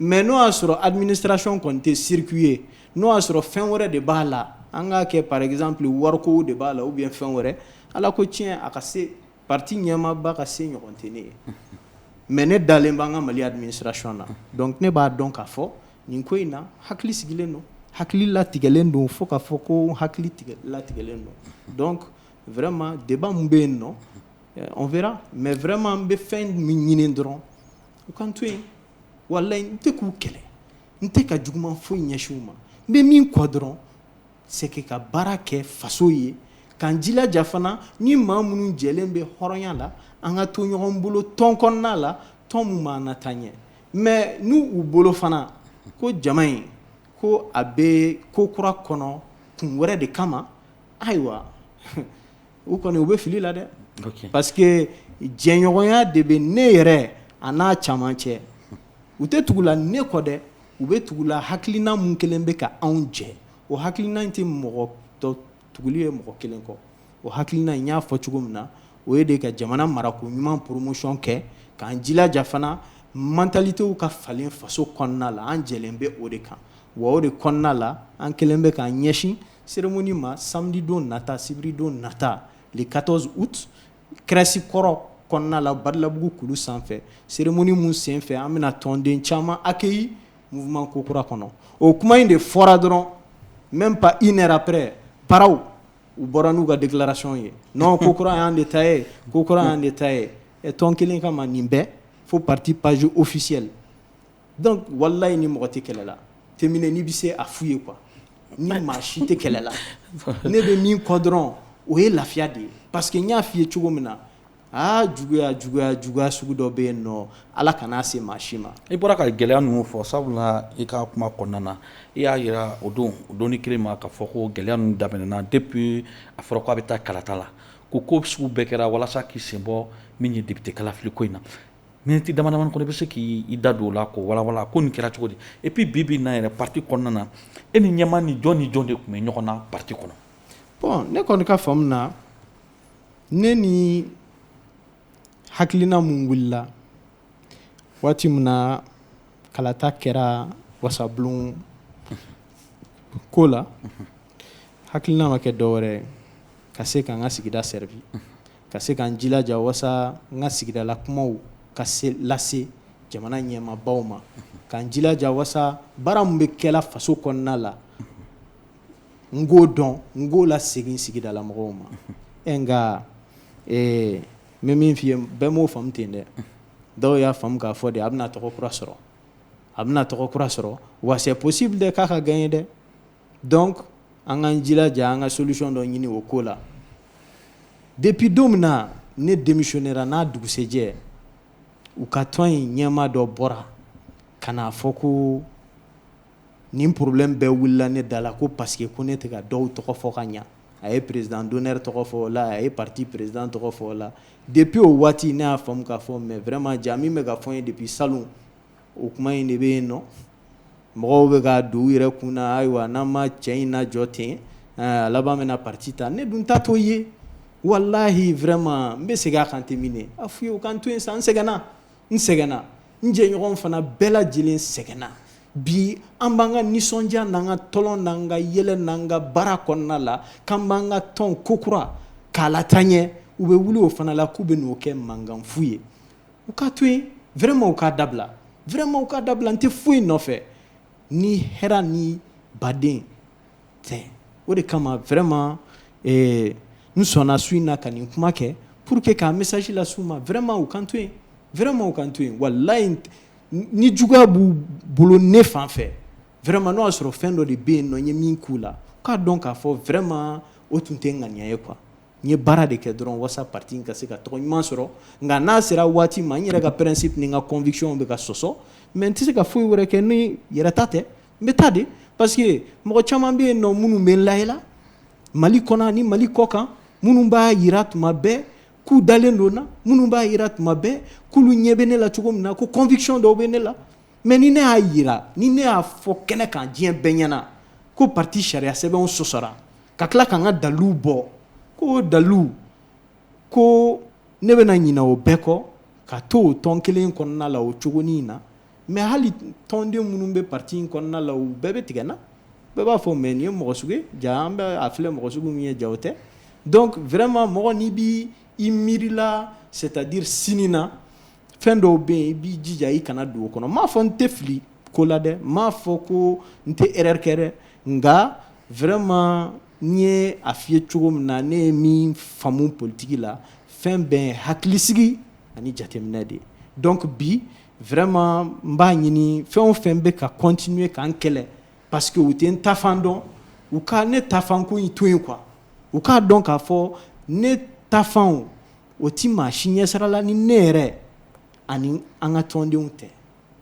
B: mais n'o y'a sɔrɔ administration kɔni tɛ circuit ye n'o y'a sɔrɔ fɛn wɛrɛ de b'a la an k'a kɛ par exemple wariko de b'a la ou bien fɛn wɛrɛ ala ko tiɲɛ a ka se pati ɲɛmaaba ka se ɲɔgɔn tɛ ne ye mais ne dalen b'an ka mali administration na donc ne b'a dɔn k'a fɔ nin ko in na hakili sigilen don hakili latigɛlen don fo k'a fɔ ko hakili tigɛ latigɛlen don donc vraiment débat min bɛ yen non on verra mais vraiment n bɛ fɛn min ɲini dɔrɔn U k'an to yen walayi n tɛ k'u kɛlɛ n tɛ ka juguman foyi ɲɛsin u ma n bɛ min kɔ dɔrɔn c'est que ka baara kɛ faso ye k'an jilaja fana ni maa minnu jɛlen bɛ hɔrɔnya la an ka to ɲɔgɔn bolo tɔn kɔnɔna la tɔn min b'an na taa ɲɛ mais n' u bolo fana ko jama in ko a bɛ ko kura kɔnɔ kun wɛrɛ de kama ayiwa u kɔni u bɛ fili la dɛ parce que jɛɲɔgɔnya de bɛ ne yɛrɛ an'a caman cɛ u tɛ tugu la ne kɔ dɛ u bɛ tugu la hakilina min kɛlen bɛ ka anw jɛ o hakilina in tɛ mɔgɔ tɔ tuguli ye mɔgɔ kelen kɔ o hakilina in y'a fɔ cogo min na o ye de ka jamana marako ɲuman poromosiyɔn kɛ k'an jilaja fana mantalitew ka falen faso kɔnɔna la an jɛlen bɛ o de kan wa o de kɔnɔna la an kɛlen bɛ k'an ɲɛsin Seremoni ma samedi don nata sibiridon nata le 14 août CRES kɔrɔ kɔnɔna la badalabugu kulu sanfɛ seremoni min senfɛ an bɛna tɔnden caman accueilli mouvement ko kura kɔnɔ o kuma in de fɔra dɔrɔn même pas une heure après paraw u bɔra n'u ka déclaration ye non ko kura y'an de ta ye ko kura y'an de ta ye ɛ tɔn kelen kama nin bɛɛ fo parti page officiel Donc walayi ni mɔgɔ tɛ kɛlɛ la terminé n'i bɛ se a f'u ye quoi ni maa si tɛ kɛlɛ la ne bɛ min kɔ dɔrɔn o ye lafiya de ye parce que n y'a f'i ye cogo min na aa juguya juguya juguya sugu dɔ bɛ yen nɔ Ala kan'a se maa si ma. I bɔra ka gɛlɛya
A: ninnu fɔ sabula i ka kuma kɔnɔna na i y'a jira o don o don in kelen ma k'a fɔ ko gɛlɛya ninnu daminɛna depuis a fɔra k'a bɛ taa kalata la ko ko sugu bɛɛ kɛra walasa k'i sen bɔ min ye député kalafili ko in na Miniti damadamani kɔnɔ i bɛ se k'i da don o la k'o walawala ko nin kɛra cogo di et puis bi bi in na yɛrɛ parti kɔnɔna na e ni ɲɛmaa ni jɔn ni jɔn de tun bɛ ɲɔgɔn na parti kɔnɔ bon ne
B: kɔni ka faamu na ne ni hakilina min wulila waati min na kalata kɛra wasabulon ko la hakilina ma kɛ dɔ wɛrɛ ka se ka n ka sigida servi Ka se ka n jilaja wasa n ka sigidala kumaw ka se lase jamana ɲɛmaabaw ma ka n jilaja wasa baara min bɛ kɛla faso kɔnɔna la n k'o dɔn n k'o lasegin sigidala mɔgɔw ma ɛ nka n bɛ min f'i ye bɛɛ m'o faamu ten dɛ dɔw y'a faamu k'a fɔ de a bɛna tɔgɔ kura sɔrɔ a bɛna tɔgɔ kura sɔrɔ wa c'est possible de k'a ka gagner dɛ donc an k'an jilaja an ka solution dɔ ɲini o ko la depuis don min na ne démissionnera n'a dugusɛjɛ u ka tɔn in ɲɛmaa dɔ bɔra ka n'a fɔ ko nin problème bɛɛ wulila ne da la ko parce que ko ne tɛ ka dɔw tɔgɔ fɔ ka ɲɛ a ye président d'honneur tɔgɔ fɔ la a ye parti président tɔgɔ fɔ la depuis o waati ne y'a faamu k'a fɔ mais vraiment jaa min bɛ ka fɔ n ye depuis salon o kuma in de bɛ yen nɔ mɔgɔw bɛ ka don u yɛrɛ kun na ayiwa n'an ma cɛ in lajɔ ten a laban bɛna parti ta ne dun ta t'o ye walahi vraiment n bɛ segin a kan terminé a f'u ye u k'an to yen sa n sɛgɛnna n sɛgɛnna n jɛɲɔgɔn fana bɛɛ lajɛlen sɛgɛnna bi an b'an ka nisɔndiya n'an ka tɔlɔn n'an ka yɛlɛ n'an ka baara kɔnɔna la k'an b'an ka tɔn kokura k'a lataa ɲɛ u bɛ wuli o fana la k'u bɛ n'o kɛ mankanfu ye u k'a to yen vraiment u k'a dabila vraiment u k'a dabila n tɛ foyi nɔfɛ ni hɛrɛ ni baden tɛ o de kama vraiment eh, n sɔnna su in na ka nin kuma kɛ pour que k'a message las'u ma vraiment u k'an to yen vraiment u k'an to yen walayi ni juguya b'u bolo ne fan fɛ vraiment n'o y'a sɔrɔ fɛn dɔ de bɛ yen nɔ n ye min k'u la u k'a dɔn k'a fɔ vraiment o tun tɛ ŋaniya ye quoi N ye baara de kɛ dɔrɔn walasa parti in ka se ka tɔgɔ ɲuman sɔrɔ nka n'a sera waati ma n yɛrɛ ka principe ni n ka conviction bɛ ka sɔsɔ mais n tɛ se ka foyi wɛrɛ kɛ ni yɛrɛ ta tɛ n bɛ taa de parce que mɔgɔ caman bɛ yen nɔ minnu bɛ n lajɛ la mali kɔnɔ ni mali kɔ kan minnu b'a jira tuma bɛɛ k'u dalen don n na minnu b'a jira tuma bɛɛ k'olu ɲɛ bɛ ne la cogo min na ko conviction dɔw bɛ ne la mais ni ne y'a jira ni ne y'a fɔ kɛnɛ kan diɲɛ bɛɛ ɲɛna ko parti sariya sɛbɛnw sɔsɔra ka tila ka n ka dalu bɔ ko dalu ko ne bɛna ɲina o bɛɛ kɔ ka to o tɔn kelen kɔnɔna la o cogo in na mais hali tɔnden minnu bɛ parti in kɔnɔna la u bɛɛ bɛ tigɛ n na bɛɛ b'a fɔ mais nin ye mɔgɔ sugu ye jaa an bɛ a filɛ mɔgɔ sugu min ye jaa o tɛ donc vraiment mɔgɔ n'i b'i miiri la c'est-à-dire sini na fɛn dɔw bɛ yen i b'i jija i kana don o kɔnɔ n m'a fɔ n tɛ fili ko la dɛ n m'a fɔ ko n tɛ erreur kɛ dɛ nka vraiment n ye a f'i ye cogo min na ne ye min faamu politique la fɛn bɛɛ ye hakilisigi ani jateminɛ de ye donc bi vraiment n b'a ɲini fɛn o fɛn bɛ ka continuer ka n kɛlɛ parce que u tɛ n tafan dɔn u ka ne tafanko in to yen quoi u k'a dɔn k'a fɔ ne tafanw o tɛ maa si ɲɛsira la ni ne yɛrɛ ani an ka tɔndenw tɛ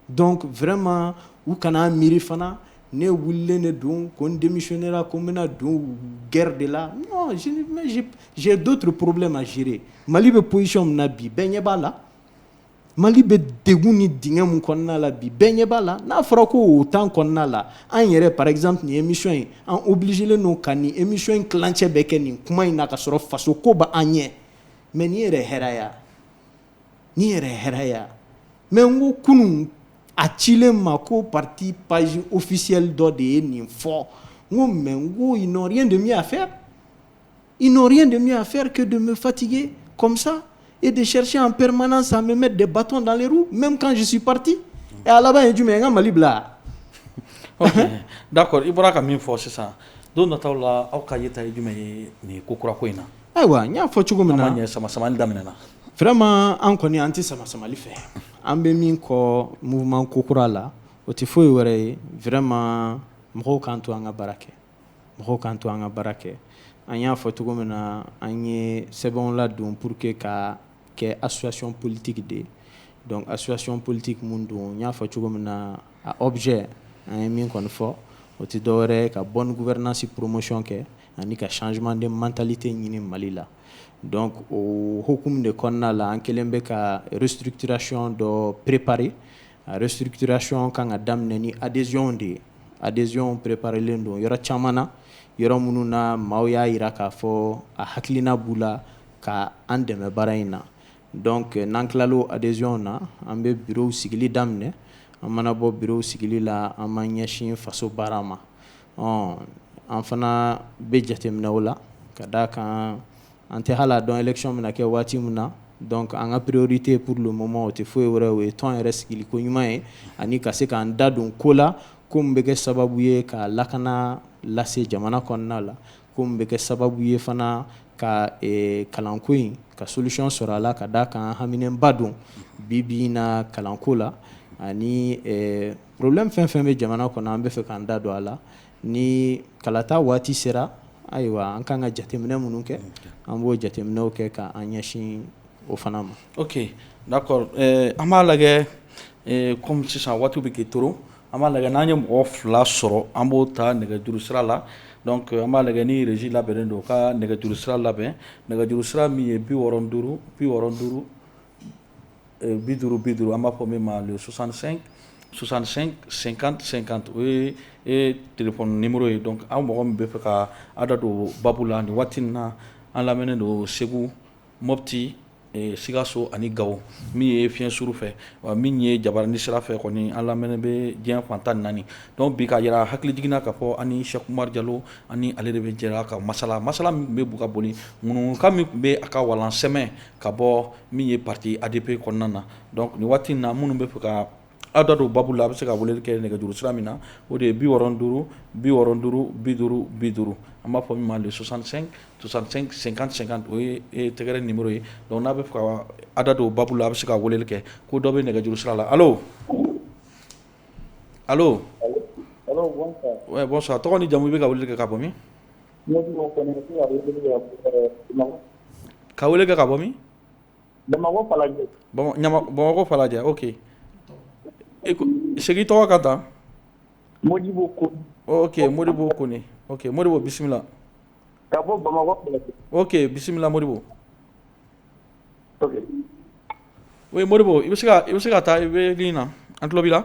B: donc vraiment u kana miiri fana ne wulilen de don ko n démissionnera ko n bɛna don guerre de la non j'ai d'autres problèmes à gérer mali bɛ position min na bi bɛɛ ɲɛ b'a la Mali bɛ degkun ni d min kɔnɔna la bi bɛn ɲɛ b'a la n'a fɔra ko o tan kɔnɔna la an yɛrɛ paz tun ye emisɔn ye an u bilisisilen don ka nin emi in ticɛ bɛ kɛ nin kuma in na ka sɔrɔ faso ko bɛ an ɲɛ mɛ n' yɛrɛ hɛrɛɛya n yɛrɛ hɛrɛɛya mɛ n ko kunun a cilen ma ko pati paz ofisili dɔ de ye nin fɔ n ko mɛ ko n nɔ de min' a fɛ I nɔrɔri de min' fɛrike don donbe fatigi kɔmisa e de sɛc an ppɛreman san bɛ mɛ de bato dare mɛ kansi pati ɛ alaba ye jumɛn ye n ka mali bila
A: da kɔrɔ i bɔra ka min fɔ sisan don dɔ t' la aw ka yeta ye jumɛn ye nin ko kura ko in na ayiwa n y'a fɔ
B: cogo min na sama samamani daminɛɛna
A: fɛrɛma an
B: kɔni an tɛ sama samamali fɛ an bɛ min kɔ mun ko kura la o tɛ foyi ye wɛrɛ ye fɛrɛma mɔgɔw kan to an ka baara kɛ mɔgɔw k'an to an ka baara kɛ an y'a fɔ cogo min na an ye sɛbɛnw ladon pour que ka kɛ association politique de ye donc association politique min don n y'a fɔ cogo min na a objet an ye min kɔni fɔ o tɛ dɔwɛrɛ ye ka bonne gouvernance promotion kɛ ani ka changement de mentalité ɲini Mali la donc o hokumu de kɔnɔna la an kɛlen bɛ ka restructuration dɔ préparer A restructuration kan ka daminɛ ni adhésion de ye adhésion préparelen don yɔrɔ caman na yɔrɔ minnu na maaw y'a jira k'a fɔ a hakilina b'u la ka an dɛmɛ baara in na donc n'an tilala o adhésion na an bɛ bureau sigili daminɛ an mana bɔ bureau sigili la an b'an ɲɛsin faso baara ma ɔ an fana bɛ jateminɛ o la ka d' a kan An tɛ hali a dɔn élection bɛna kɛ waati min na donc an ka priorité pour le moment o tɛ foyi wɛrɛ o ye tɔn yɛrɛ sigili ko ɲuman ye ani ka se k'an da don ko la ko min bɛ kɛ sababu ye ka lakana lase jamana kɔnɔna la ko min bɛ kɛ sababu ye fana ka kalanko in ka solution sɔrɔ a la ka d'a kan haminanba don bi bi in na kalanko la ani problème fɛn fɛn bɛ jamana kɔnɔ an bɛ fɛ k'an da don a la ni kalata waati sera ayiwa an ka kan ka jateminɛ minnu kɛ an b'o jateminɛw kɛ ka an ɲɛsin o fana ma oke
A: d'accord an b'a lajɛ kɔmi sisan waati bɛ k'i tɔɔrɔ an b'a lajɛ n'an ye mɔgɔ fila sɔrɔ an b'o ta nɛgɛjuru sira la donc an b'a lajɛ ni régie labɛnnen don u ka nɛgɛjuru sira labɛn nɛgɛjuru sira min ye bi wɔɔrɔ ni duuru bi wɔɔrɔ ni duuru bi duuru bi duuru an b'a fɔ min ma le soixante-cinq cinquante cinquante o ye téléphone numéro ye donc aw mɔgɔ min bɛ fɛ ka aw da don baabu la nin waati in na an lamɛnnen don segu mɔti sikaso ani gawo min ye fiɲɛ suru fɛ wa min ye jabaranin sira fɛ kɔni an lamɛnnen bɛ diɲɛ fan tan naani donc bi ka jira hakilijigin na k'a fɔ an ni sɛki umaru jalo an ni ale de bɛ jɛra ka masala masala min bɛ ka boli ŋunuŋunukan min tun bɛ a ka walan sɛmɛ ka bɔ min ye parti ADP kɔnɔna na donc nin waati in na minnu bɛ fɛ ka aw da don baabu la a bɛ se ka weleli kɛ nɛgɛjuru sira min na o de ye bi wɔɔrɔ ni duuru bi wɔɔrɔ ni duuru bi duuru bi duuru an b'a fɔ min ma le soixante-cinq soixante-cinq cinquante cinquante o ye tɛgɛrɛ numéro ye donc n'a bɛ fɛ ka aw da don baabu la a bɛ se ka weleli kɛ ko dɔ bɛ nɛgɛjuru sira la allô
C: allô bonsoir tɔgɔ
A: ni jamu i bɛ ka weleli kɛ ka bɔ min Ka weleli kɛ ka bɔ min bamakɔ falajɛ oke segin tɔgɔ kan ta
C: modibo oke modibo
A: kɔnɛ oke modibo bisimila
C: oke bisimila
A: modibo o modibo i bɛ se i bɛ se ka taa i bɛ ligne na an tulo b'i la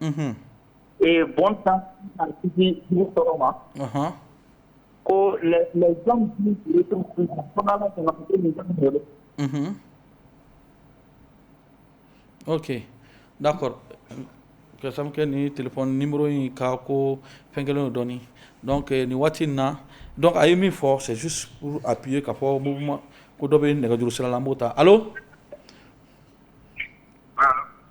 C: ee bɔn tan tɔgɔ ma ko
A: oke n'a fɔrasankɛ ni tile nimuru in ka ko fɛn kelen dɔɔnin nin waati in na dɔn a ye min fɔ sɛ a bi ye ka fɔ ko dɔ bɛ nɛgɛjuru sirala an b'o ta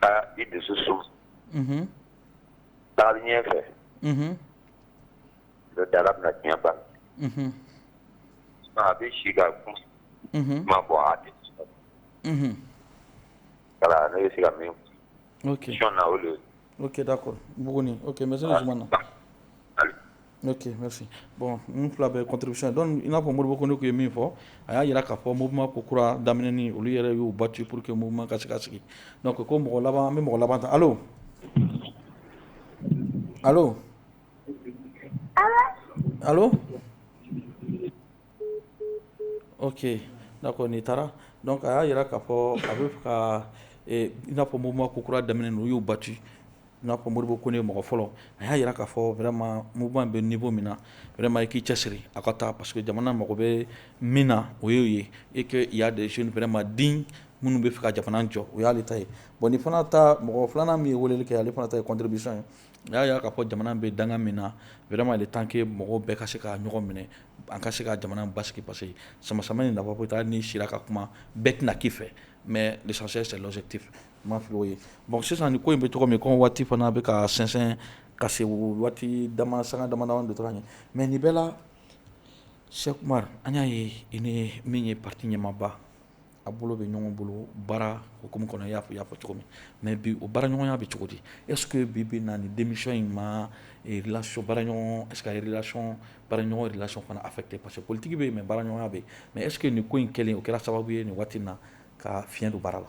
D: taa i dusu suma taali ɲɛ fɛ n'o tɛ Ala bɛna tiɲɛ ban a bɛ si ka kuma fɔ a tɛ voilà ne bɛ se ka min fɔ ok question na
A: o de ye
D: O kɛda kɔrɔ
A: bugun o mɛ sema na n'o bɔn n fila bɛ cotobisa dɔn in n'a fɔ moribugu kɔni tun ye min fɔ a y'a jira k'a fɔ moma ko kura daminɛ olu yɛrɛ y'u ba ci pur que muma ka se ka sigi ko ko mɔgɔ laban an bɛ mɔgɔ laban ta ala ala Oke n'a ko n'i taara a y'a jira k'a fɔ a bɛ ka n'a fɔ ma ko kura daminɛ u y'u ba ci n'a fɔ moriɔribo ko ne ye mɔgɔ fɔlɔ a y'a jira k'a fɔ wɛrɛma mugan bɛ ninfɔ min na wɛrɛma i k'i cɛ siri a ka taa paseke jamana mago bɛ min na o y'o ye e ka ya de wɛrɛma den minnu bɛ fɛ ka jamana jɔ o y'ale ta ye bɔn ni fana taa mɔgɔ filanan min ye weele kɛ ale fana ta ye cobi ye A y'a jira k'a fɔ jamana bɛ danga min na vraiment il est temps que mɔgɔ bɛɛ ka se ka ɲɔgɔn minɛ an ka se ka jamana basigi parce que samasamani in n'a bɛ taa ni sira ka kuma bɛɛ tɛna kɛ i fɛ mais l'essentiel ma fɔ oo ye bon sisan ni ko in bɛ tɔgɔ min ko waati fana bɛ ka sɛnsɛn ka se waati dama sanga dama de tora yen mais nin bɛɛ la Cheick Oumar an y'a ye i ni min ye parti ɲɛmaaba aw bolo bɛ ɲɔgɔn bolo baara hukumu kɔnɔ i y'a fɔ cogo min mais bi o baaraɲɔgɔnya bɛ cogo di est-ce que bi bi in na nin démission in ma relation baaraɲɔgɔn est-ce que relation baaraɲɔgɔn relation fana affecter parce que politique bɛ yen mais baaraɲɔgɔnya bɛ yen mais est-ce que nin ko in kelen o kɛra sababu ye nin waati in na ka fiɲɛ don baara
B: la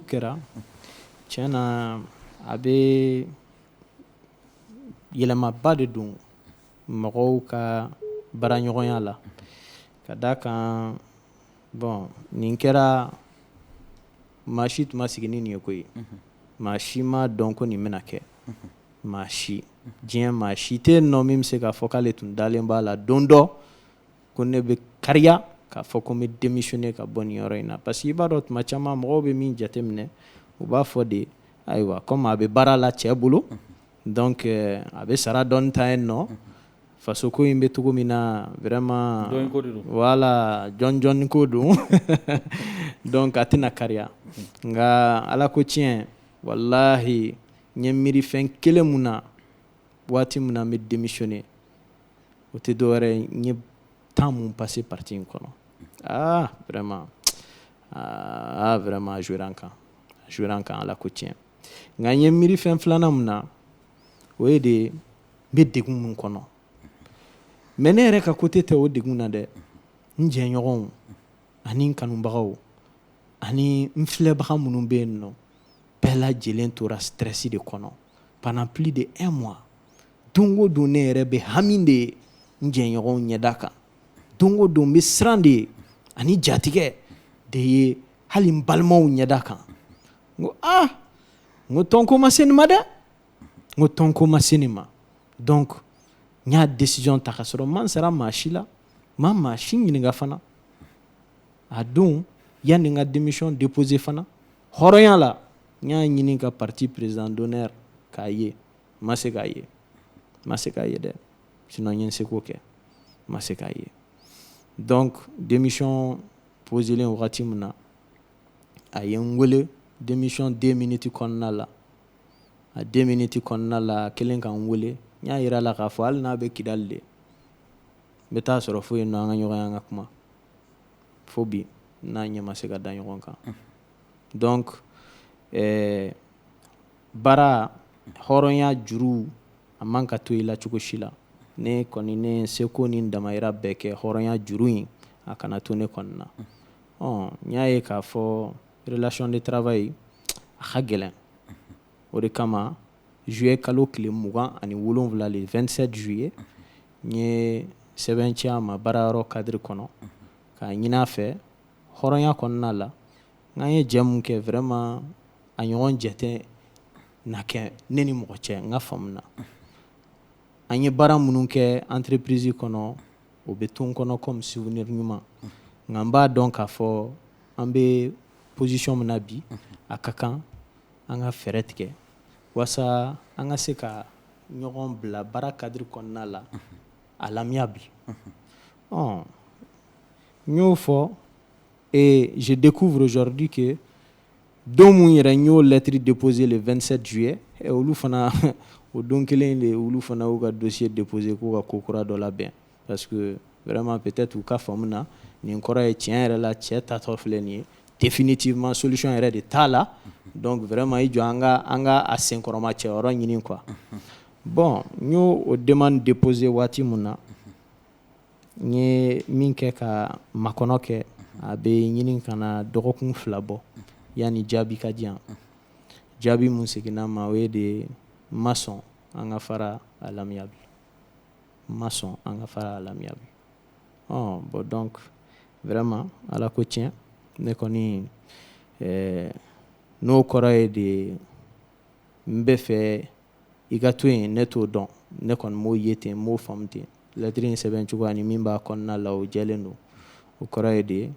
B: kɛra tiɲɛ na a bɛ yɛlɛmaba de don mɔgɔw ka baaraɲɔgɔnya la ka d'a kan bon nin kɛra maa si tun ma sigi ni nin ye koyi maa si ma dɔn ko nin bɛna kɛ maa si diɲɛ maa si tɛ yen nɔ min bɛ se k'a fɔ k'ale tun dalen b'a la don dɔ ko ne bɛ kariya k'a fɔ ko n bɛ démissionner ka bɔ nin yɔrɔ in na parce que i b'a dɔn tuma caman mɔgɔw bɛ min jateminɛ u b'a fɔ de ayiwa comme a bɛ baara la cɛ bolo donc a bɛ sara dɔɔni ta yen nɔ faso ko in bɛ cogo min na vraiment voilà jɔnjɔn ko don donc a tɛna kariya nka ala ko tiɲɛ walayi n ye miiri fɛn kelen min na waati min na n bɛ démissionner o tɛ dɔwɛrɛ ye temps min passé parti in kɔnɔ vraiment vraiment a jouera n kan a jouera n kan ala ko tiɲɛ nka n ye miiri fɛn filanan min na o ye de n bɛ degun min kɔnɔ mais ne yɛrɛ ka côté tɛ o degun na dɛ n jɛɲɔgɔnw ani kanubagaw ani n filɛbaga minnu bɛ yen nɔ bɛɛ lajɛlen tora stress de kɔnɔ pendant plus de un mois don o don ne yɛrɛ bɛ hami de ye n jɛɲɔgɔnw ɲɛda kan don o don n bɛ siran de ye ani jatigɛ de ye hali n balimaw ɲɛda kan n ko aa n ko tɔn ko ma se nin ma dɛ n ko tɔn ko ma se nin ma donc n y'a décision ta ka sɔrɔ n ma n sara maa si la n ma maa si ɲininka fana a don yanni n ka démission déposer fana hɔrɔnya la n y'a ɲini ka parti président d'honneur k'a ye n ma se k'a ye n ma se k'a ye dɛ sinon n ye n seko kɛ n ma se k'a ye donc démission poselen wagati min na a ye n wele démission deux minutes kɔnɔna la a deux minutes kɔnɔna la a kɛlen ka n wele n y'a yira la k'a fɔ hali n'a bɛ kidali de n bɛ taa sɔrɔ fo yen nɔ an ka ɲɔgɔn ye an ka kuma fo bi n'a ɲɛ ma se ka da ɲɔgɔn kan donc ɛɛ baara hɔrɔnya juru a man ka to i la cogo si la ne kɔni ye n seko ni n damahira bɛɛ kɛ hɔrɔnya juru in a kana to ne kɔni na ɔ n y'a ye k'a fɔ relation de travail a ka gɛlɛn o de kama juillet kalo tile mugan ani wolonwula le 27 juillet n ye sɛbɛn ci a ma baarayɔrɔ cadre kɔnɔ k'a ɲini a fɛ hɔrɔnya kɔnɔna la n k'an ye jɛ min kɛ vraiment a ɲɔgɔn jɛ tɛna kɛ ne ni mɔgɔ cɛ n ka faamu na an ye baara minnu kɛ entreprise kɔnɔ o bɛ to n kɔnɔ comme souvenir ɲuman nka n b'a dɔn k'a fɔ an bɛ position min na bi a ka kan an ka fɛɛrɛ tigɛ walasa an ka se ka ɲɔgɔn bila baara cadre kɔnɔna la à l'amiable ɔ n y'o fɔ et je découvre aujourd'hui que Don min yɛrɛ n y'o lɛtiri déposé le 27 juillet olu fana o don kelen de olu fana y'u ka dossier déposé k'u ka ko kura dɔ labɛn parce que vraiment peut-être u ka faamu na nin kɔrɔ ye tiɲɛ yɛrɛ la cɛ tatɔ filɛ nin ye définitivement solution yɛrɛ de t'a la donc vraiment i jɔ an ka an ka a senkɔrɔma cɛ yɔrɔ ɲini quoi bon n y'o o demande déposé waati min na N ye min kɛ ka makɔnɔ kɛ a bɛ ɲini ka na dɔgɔkun fila bɔ yanni jaabi ka di a jaabi min seginna ma o ye de ma sɔn an ka fara à l'amiable ma sɔn an ka fara à l'amiable ɔ bon donc vraiment ala ko tiɲɛ ne kɔni n'o kɔrɔ ye de n bɛ fɛ i ka to yen ne t'o dɔn ne kɔni m'o ye ten m'o faamu ten lɛtiri in sɛbɛn cogoya ni min b'a kɔnɔna la o jɛlen don o kɔrɔ ye de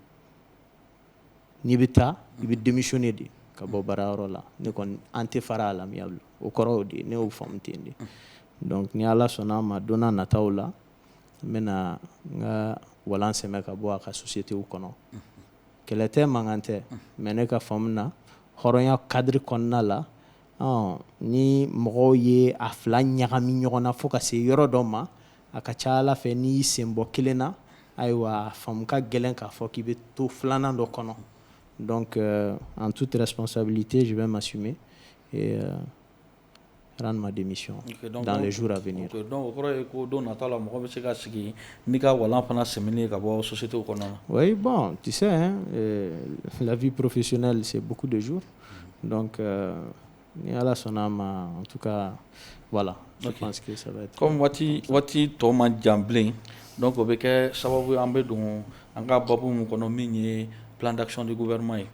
B: n'i bɛ taa i bɛ démissionner de ka bɔ baarayɔrɔ la ne kɔni an tɛ fara à l'amiable o kɔrɔ de ye ne y'o faamu ten de donc ni ala sɔnna a ma don na nataw la n bɛna na n ka walan sɛmɛ ka bɔ a ka société kɔnɔ kɛlɛ tɛ mankan tɛ mais ne ka faamu na hɔrɔnya cadre kɔnɔna la ni mɔgɔw ye a fila ɲagami ɲɔgɔn na fo ka se yɔrɔ dɔ ma a ka ca ala fɛ n'i sen bɔ kelen na ayiwa famu ka gɛlɛn k'a fɔ k'i bɛ to filanan dɔ kɔnɔ an tu tɛsa tɛ ji bɛ ma su min hadamami su ko
A: don nata la mɔgɔ bɛ se ka sigi n'i ka walan fana sɛen ka bɔ sosite kɔnɔ o bɔn tese
B: lafiorofi sila se de dɔn ni ala sɔnna' ma tu ka wala waati waati
A: tɔ ma janbilen dɔn ko bɛ kɛ sababu an bɛ don an ka bɔ min kɔnɔ min ye ptansiɔn de wɛrɛma ye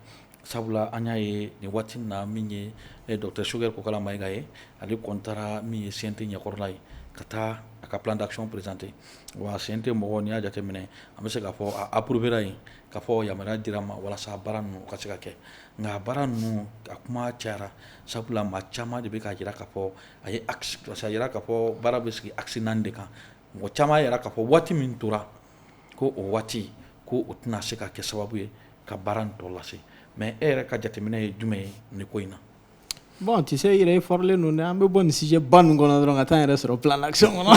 A: sabula an y'a ye nin waati min na min ye dɔkɛ sokɛ ko kala mayika ye ani kɔnta min ye sente ɲɛkɔrɔla ye ka taa a ka ptansiɔn perezdte wa sen tɛ mɔgɔ ni y'a jateminɛ an bɛ se k ka fɔ apurupbra yen ka fɔ yama di ma walasa baara ninnu ka se ka kɛ nka a baara ninnu a kuma cayara sabula maa caman de bɛ k'a jira k'a fɔ a ye axe a jira k'a fɔ baara bɛ sigi axe naani de kan mɔgɔ caman y'a jira k'a fɔ waati min tora ko o waati ko o tɛna se ka kɛ sababu ye ka baara nin tɔ lase mais e yɛrɛ ka jateminɛ ye jumɛn ye nin ko in na Bon tu
B: sais i yɛrɛ ye fɔrilen don an bɛ bɔ nin sujet ba ninnu kɔnɔ dɔrɔn ka taa yɛrɛ sɔrɔ plan d'action kɔnɔ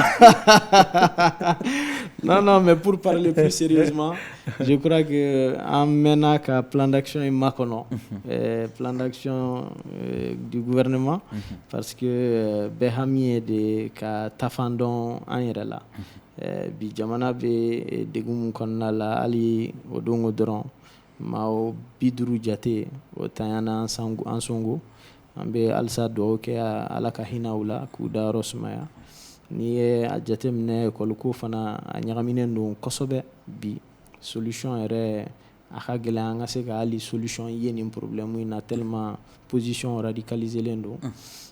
B: non mais pour parler plus sérieusement je crois que an mɛnna ka plan d'action in makɔnɔ plan d'action du gouvernement parce que bɛɛ hami ye de ka taafan dɔn an yɛrɛ la bi jamana bɛ degun min kɔnɔna la hali o don dɔrɔn Mɔgɔ bi duuru jate o taɲa na Ansongo an bɛ halisa dugawu kɛ ala ka hinɛ u la k'u da yɔrɔ sumaya n'i ye a jate minɛ école ko fana a ɲagaminen don kosɛbɛ bi solution yɛrɛ a ka gɛlɛn an ka se ka hali solution ye nin problème in na tellement positionw radicaliselen don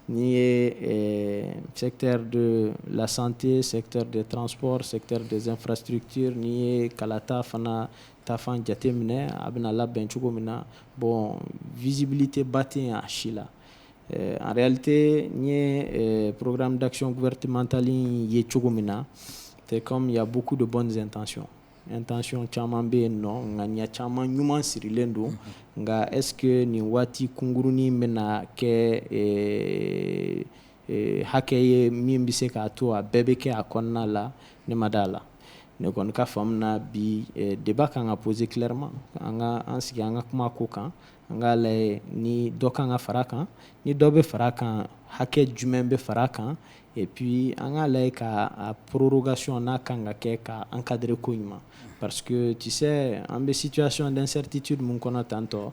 B: n'i ye secteur de la santé secteur des transports secteur des infrastructures n'i ye kalata fana tafan jate minɛ a bɛna labɛn cogo min na bɔn vizbili tɛ ba tɛ a si la arete n ye porokkara dakisiɔn wɛrɛretimantali ye cogo min na tɛ ya buku de bɔ nin tancɔn n tancɔn caman bɛ yen nɔ nka ɲɛ caman ɲuman sirilen don nka esseke nin waati kunkurunurunnin bɛna na kɛ hakɛ ye min bɛ se k'a to a bɛɛ bɛ kɛ a kɔnɔna la ne ma d'a la ne kɔni ka faamu na bi débat ka kan ka poser clairement an ka an sigi an ka kuma ko kan an k'a lajɛ ni dɔ ka kan ka fara kan ni dɔ bɛ fara kan hakɛ jumɛn bɛ fara kan et puis an k'a lajɛ ka prorogation n'a kan ka kɛ ka encadrer ko ɲuman parce que tu sais an bɛ situation d'incertitude min kɔnɔ tantɔ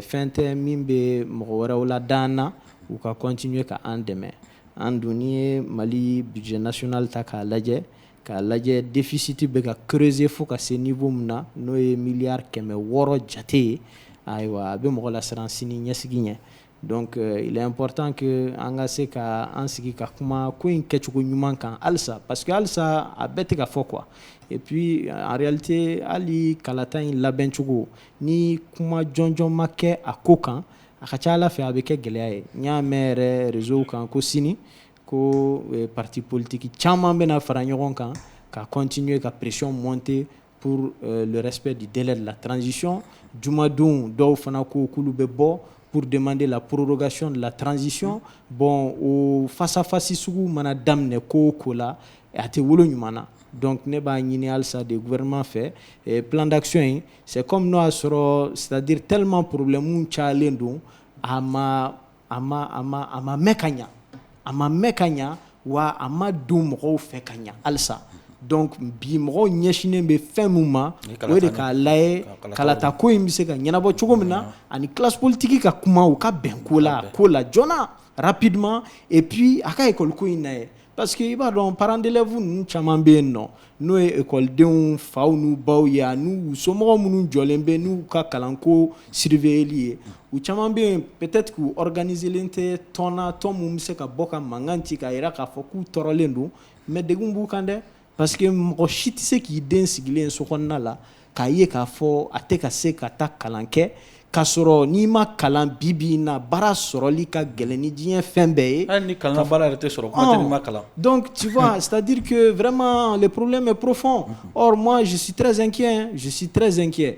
B: fɛn tɛ min bɛ mɔgɔ wɛrɛw lada an na U ka continuer ka an dɛmɛ an dun n'i ye Mali budget national ta k'a lajɛ k'a lajɛ déficit bɛ ka creuser fo ka se niveau min na n'o ye miliyari kɛmɛ wɔɔrɔ jate ye ayiwa a bɛ mɔgɔ lasiran sini ɲɛsigi ɲɛ donc il est important que an ka se ka an sigi ka kuma ko in kɛcogo ɲuman kan halisa parce que halisa a bɛɛ tɛ ka fɔ quoi et puis en réalité hali kalata in labɛncogo ni kuma jɔnjɔn ma kɛ a ko kan A ka ca a la fɛ a bɛ kɛ gɛlɛya ye n y'a mɛn yɛrɛ réseauw kan ko sini ko parti politique caman bɛna fara ɲɔgɔn kan ka continuer ka pression monter pour le respect du délai de la transition jumadon dɔw fana ko k'olu bɛ bɔ pour demander la prorogation de la transition bon o face à face sugu mana daminɛ ko o ko la a tɛ wolo ɲuman na donc ne b'a ɲini halisa de gouvernement fɛ plan d'action in C'est comme n'o y'a sɔrɔ c'est à dire tellement problème cayalen don a ma a ma a ma a ma mɛn ka ɲɛ a ma mɛn ka ɲɛ wa a ma dɔn mɔgɔw fɛ ka ɲɛ halisa donc bi mɔgɔw ɲɛsinnen bɛ fɛn min ma o ye de k'a layɛ kalata ko in bɛ se ka ɲɛnabɔ cogo min na ani classe politique ka kuma u ka bɛn ko la ko la joona rapidement et puis a ka école ko in layɛ Parce que i b'a dɔn parents d'élèves ninnu caman bɛ yen nɔ n'o ye ekɔlidenw faw n'u baw ye n'u somɔgɔw minnu jɔlen bɛ n'u ka kalanko surveilleli ye u caman bɛ yen peut-être k'u organiselen tɛ tɔn na tɔn min bɛ se ka bɔ ka mankan ci k'a jira k'a fɔ k'u tɔɔrɔlen don mais degun b'u kan dɛ Parce que mɔgɔ si tɛ se k'i den sigilen so kɔnɔna la k'a ye k'a fɔ a tɛ ka se ka taa kalan kɛ k ka sɔrɔ n'i ma kalan bi bi na baara sɔrɔli ka gɛlɛn ni diɲɛ fɛn bɛɛ ye ni kalan baara yɛrɛ tɛ
A: sɔrɔ kalan dɔn ci
B: sadiurke wɛrɛma porolenmɛ porofma zsitrɛzɛn kɛ zsitrɛzɛn kɛ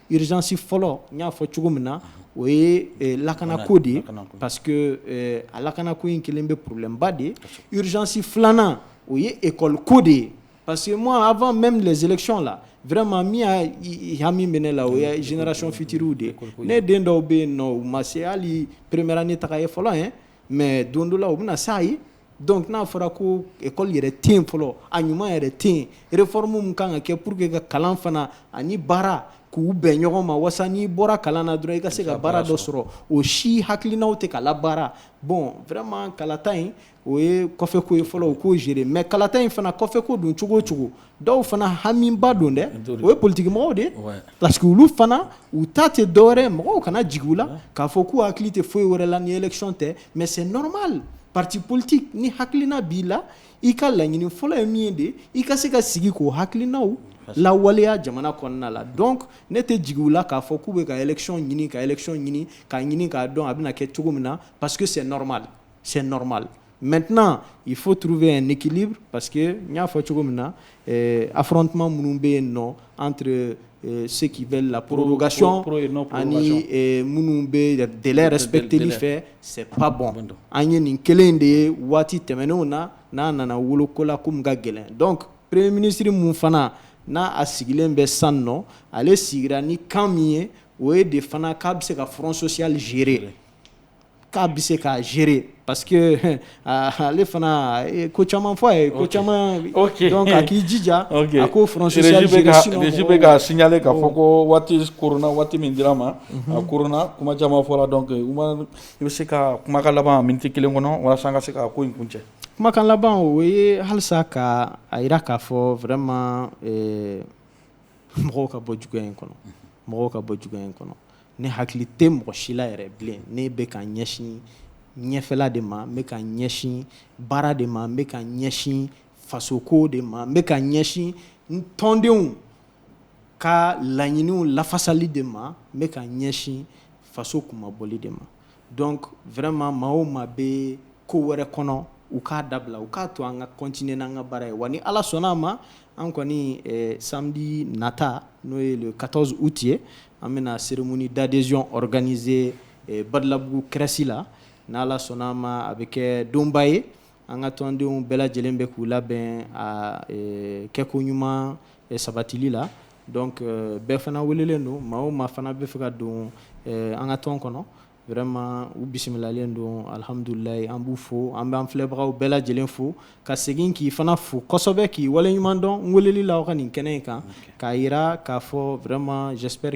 B: Irizysi fɔlɔ n y'a fɔ cogo min na o ye lakanako de ye pa que a lakanako in kelen bɛ porolenba de ye rizsi filanan o ye ekɔliko de ye pa que ma a bɛ mɛn bila zelɛcɔn la vma min y' hami minɛ la o ye jinɛinɛracon fitiriw de ye ne den dɔw bɛ yen nɔ u ma se hali premera ni taga ye fɔlɔ ye mɛ don dɔ la u bɛna na sa ye Donc n'a fɔra ko ekɔli yɛrɛ tɛ yen fɔlɔ a ɲuman yɛrɛ tɛ yen réforme mun kan ka kɛ pour que ka kalan fana ani baara k'u bɛn ɲɔgɔn ma wasa n'i bɔra kalan na dɔrɔn i ka se ka baara dɔ sɔrɔ o si hakilinaw tɛ ka labaara bon vraiment kalata in o ye kɔfɛko ye fɔlɔ u k'o gérer mais kalata in fana kɔfɛko don cogo o cogo dɔw fana hamiba don dɛ o ye politigimɔgɔw de parce que olu fana u ta tɛ dɔwɛrɛ mɔgɔw kana jigin u la k'a fɔ k'u hakili tɛ foyi wɛrɛ la ni élection tɛ mais c'est normal parti politique ni hakilina b'i la i ka laɲini fɔlɔ ye min ye de i ka se ka sigi k'o hakilinaw lawaleya jamana kɔnɔna la donc ne tɛ jigin u la k'a fɔ k'u bɛ ka élection ɲini ka élection ɲini k'a ɲini k'a dɔn a bɛna kɛ cogo min na parce que c'est normal c'est normal maintenant il faut trouver un équilibre parce que n y'a fɔ cogo min na eh, affrontement minnu bɛ yen nɔ entre eh, ceux qui veulent la prorogation ani eh, minnu bɛ délai respecteli fɛ c'est pas bon an ye nin kelen de ye waati tɛmɛnenw na n'a nana wolo ko la ko min ka gɛlɛn donc premier ministre mun fana na a sigilen bɛ san nɔ ale sigira ni kan min ye o ye de fana k'a bɛ se ka front social gérer k'a bɛ se k'a gérer parce que ale fana ye ko caman fɔ a ye ko caman donc a k'i jija a k'o front social gérer sinon régie bɛ ka signaler
A: k'a fɔ ko waati koronna waati min dira an ma a koronna kuma caman fɔra donc Umaru i bɛ se ka kumakan laban minute kelen kɔnɔ walasa an ka se ka ko in kuncɛ kumakan
B: laban o ye halisa ka a jira k'a fɔ vraiment mɔgɔw ka bɔ juguya in kɔnɔ mɔgɔw ka bɔ juguya in kɔnɔ ne hakili tɛ mɔgɔ si la yɛrɛ bilen ne bɛ ka ɲɛsin ɲɛfɛla de ma n bɛ ka ɲɛsin baara de ma n bɛ ka ɲɛsin fasoko de ma n bɛ ka ɲɛsin n tɔndenw ka laɲiniw lafasali de ma n bɛ ka ɲɛsin faso kunmabɔli de ma Donc vraiment maa o maa bɛ ko wɛrɛ kɔnɔ, u k'a dabila, u k'a to an ka continuer n'an ka baara ye, wa ni Ala sɔnn'a ma, an kɔni ɛ samedi nata n'o ye le 14 août ye, an bɛna cérémonie d'adhésion organiser ɛ Badalabugu CRES la, n'Ala sɔnn'a ma, a bɛ kɛ donba ye An ka tɔndenw bɛɛ lajɛlen bɛ k'u labɛn a kɛko ɲuman sabatili la donc bɛɛ fana welelen don maa o maa fana bɛ fɛ ka don an ka tɔn kɔnɔ vraiment u bisimilalen don alhamdulilayi an b'u fo an b'an filɛbagaw bɛɛ lajɛlen fo ka segin k'i fana fo kosɛbɛ k'i waleɲuman dɔn n weleli la aw ka nin kɛnɛ in kan k'a yira k'a fɔ vraiment j'espère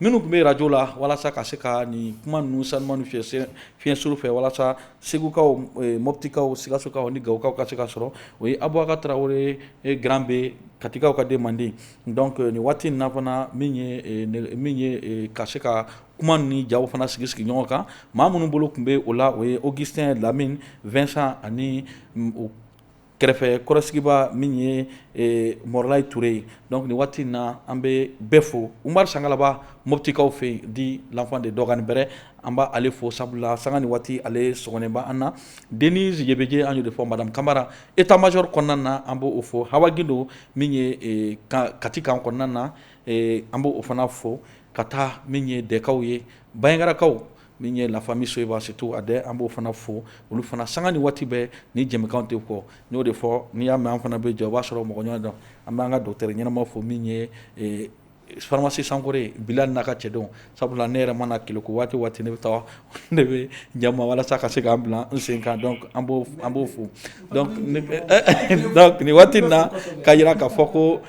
A: Minnu tun bɛ arajo la walasa ka se ka nin kuma ninnu sanuma ni fiɲɛ suru fɛ walasa segukaw mɔptikaw sikasokaw ni gawokaw ka se ka sɔrɔ o ye abubakar tarawele grand b katikaw ka denmandi donc nin waati in na fana min ye ka se ka kuma ni jaw fana sigi sigi ɲɔgɔn kan maa minnu bolo tun bɛ o la o ye augustin lamini vincent ani kɛrɛfɛ kɔrɔsigibaa min ye eh, mɔrɔlayi ture ye donc nin waati in na an bɛ bɛɛ fo umaru sangalaba moptikaw fɛ yen dit l'enfant de dɔgani bɛrɛ an b'ale fo sabula sanga ni waati ale sɔgɔnen bɛ an na denise yebeje an y'o de fɔ madame kamara état major kɔnɔna na an b'o fo hawa gindo min ye eh, ka, kati kan kɔnɔna na eh, an b'o fana fo ka taa min ye dɛkaw ye bayangarakaw min ye la famille soyiba surtout a dɛ an b'o fana fo olu fana sanga ni waati bɛɛ ni jɛmukan tɛ kɔ n y'o de fɔ n'i y'a mɛn an fana bɛ jɔ o b'a sɔrɔ mɔgɔ ɲɔgɔn dɔn an b'an ka docteur ɲɛnama fo min ye faramasi sankɔrɛ bilali n'a ka cɛdenw sabula ne yɛrɛ mana kɛlɛku waati waati ne bɛ taa ne bɛ ja walasa ka se ka n bila n sen kan donc an b'o fo nin waati in na k'a yira k'a fɔ ko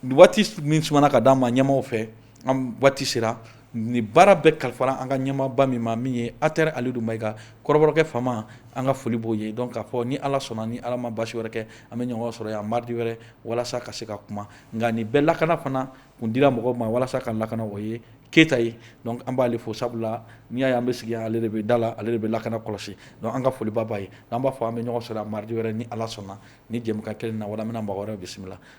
A: Waati min sumana ka d'an ma ɲɛmaaw fɛ an waati sera nin baara bɛɛ kalifara an ka ɲɛmaaba min ma min ye atɛri alidu mayiga kɔrɔbɔrɔkɛ faama an ka foli b'o ye donc k'a fɔ ni ala sɔnna ni ala ma basi wɛrɛ kɛ an bɛ ɲɔgɔn sɔrɔ yan mardi wɛrɛ walasa ka se ka kuma nka nin bɛɛ lakana fana kun dira mɔgɔ ma walasa ka lakana o ye keyita ye donc an b'ale fo sabula n'i y'a ye an bɛ sigi yan ale de bɛ da la ale de bɛ lakana kɔlɔsi donc an ka foliba b'a ye an b'a fɔ an bɛ ɲɔgɔn sɔrɔ yan mardi wɛrɛ ni ala sɔnna nin jɛmukan kelen na wala an bɛna mɔgɔ wɛrɛ bisimila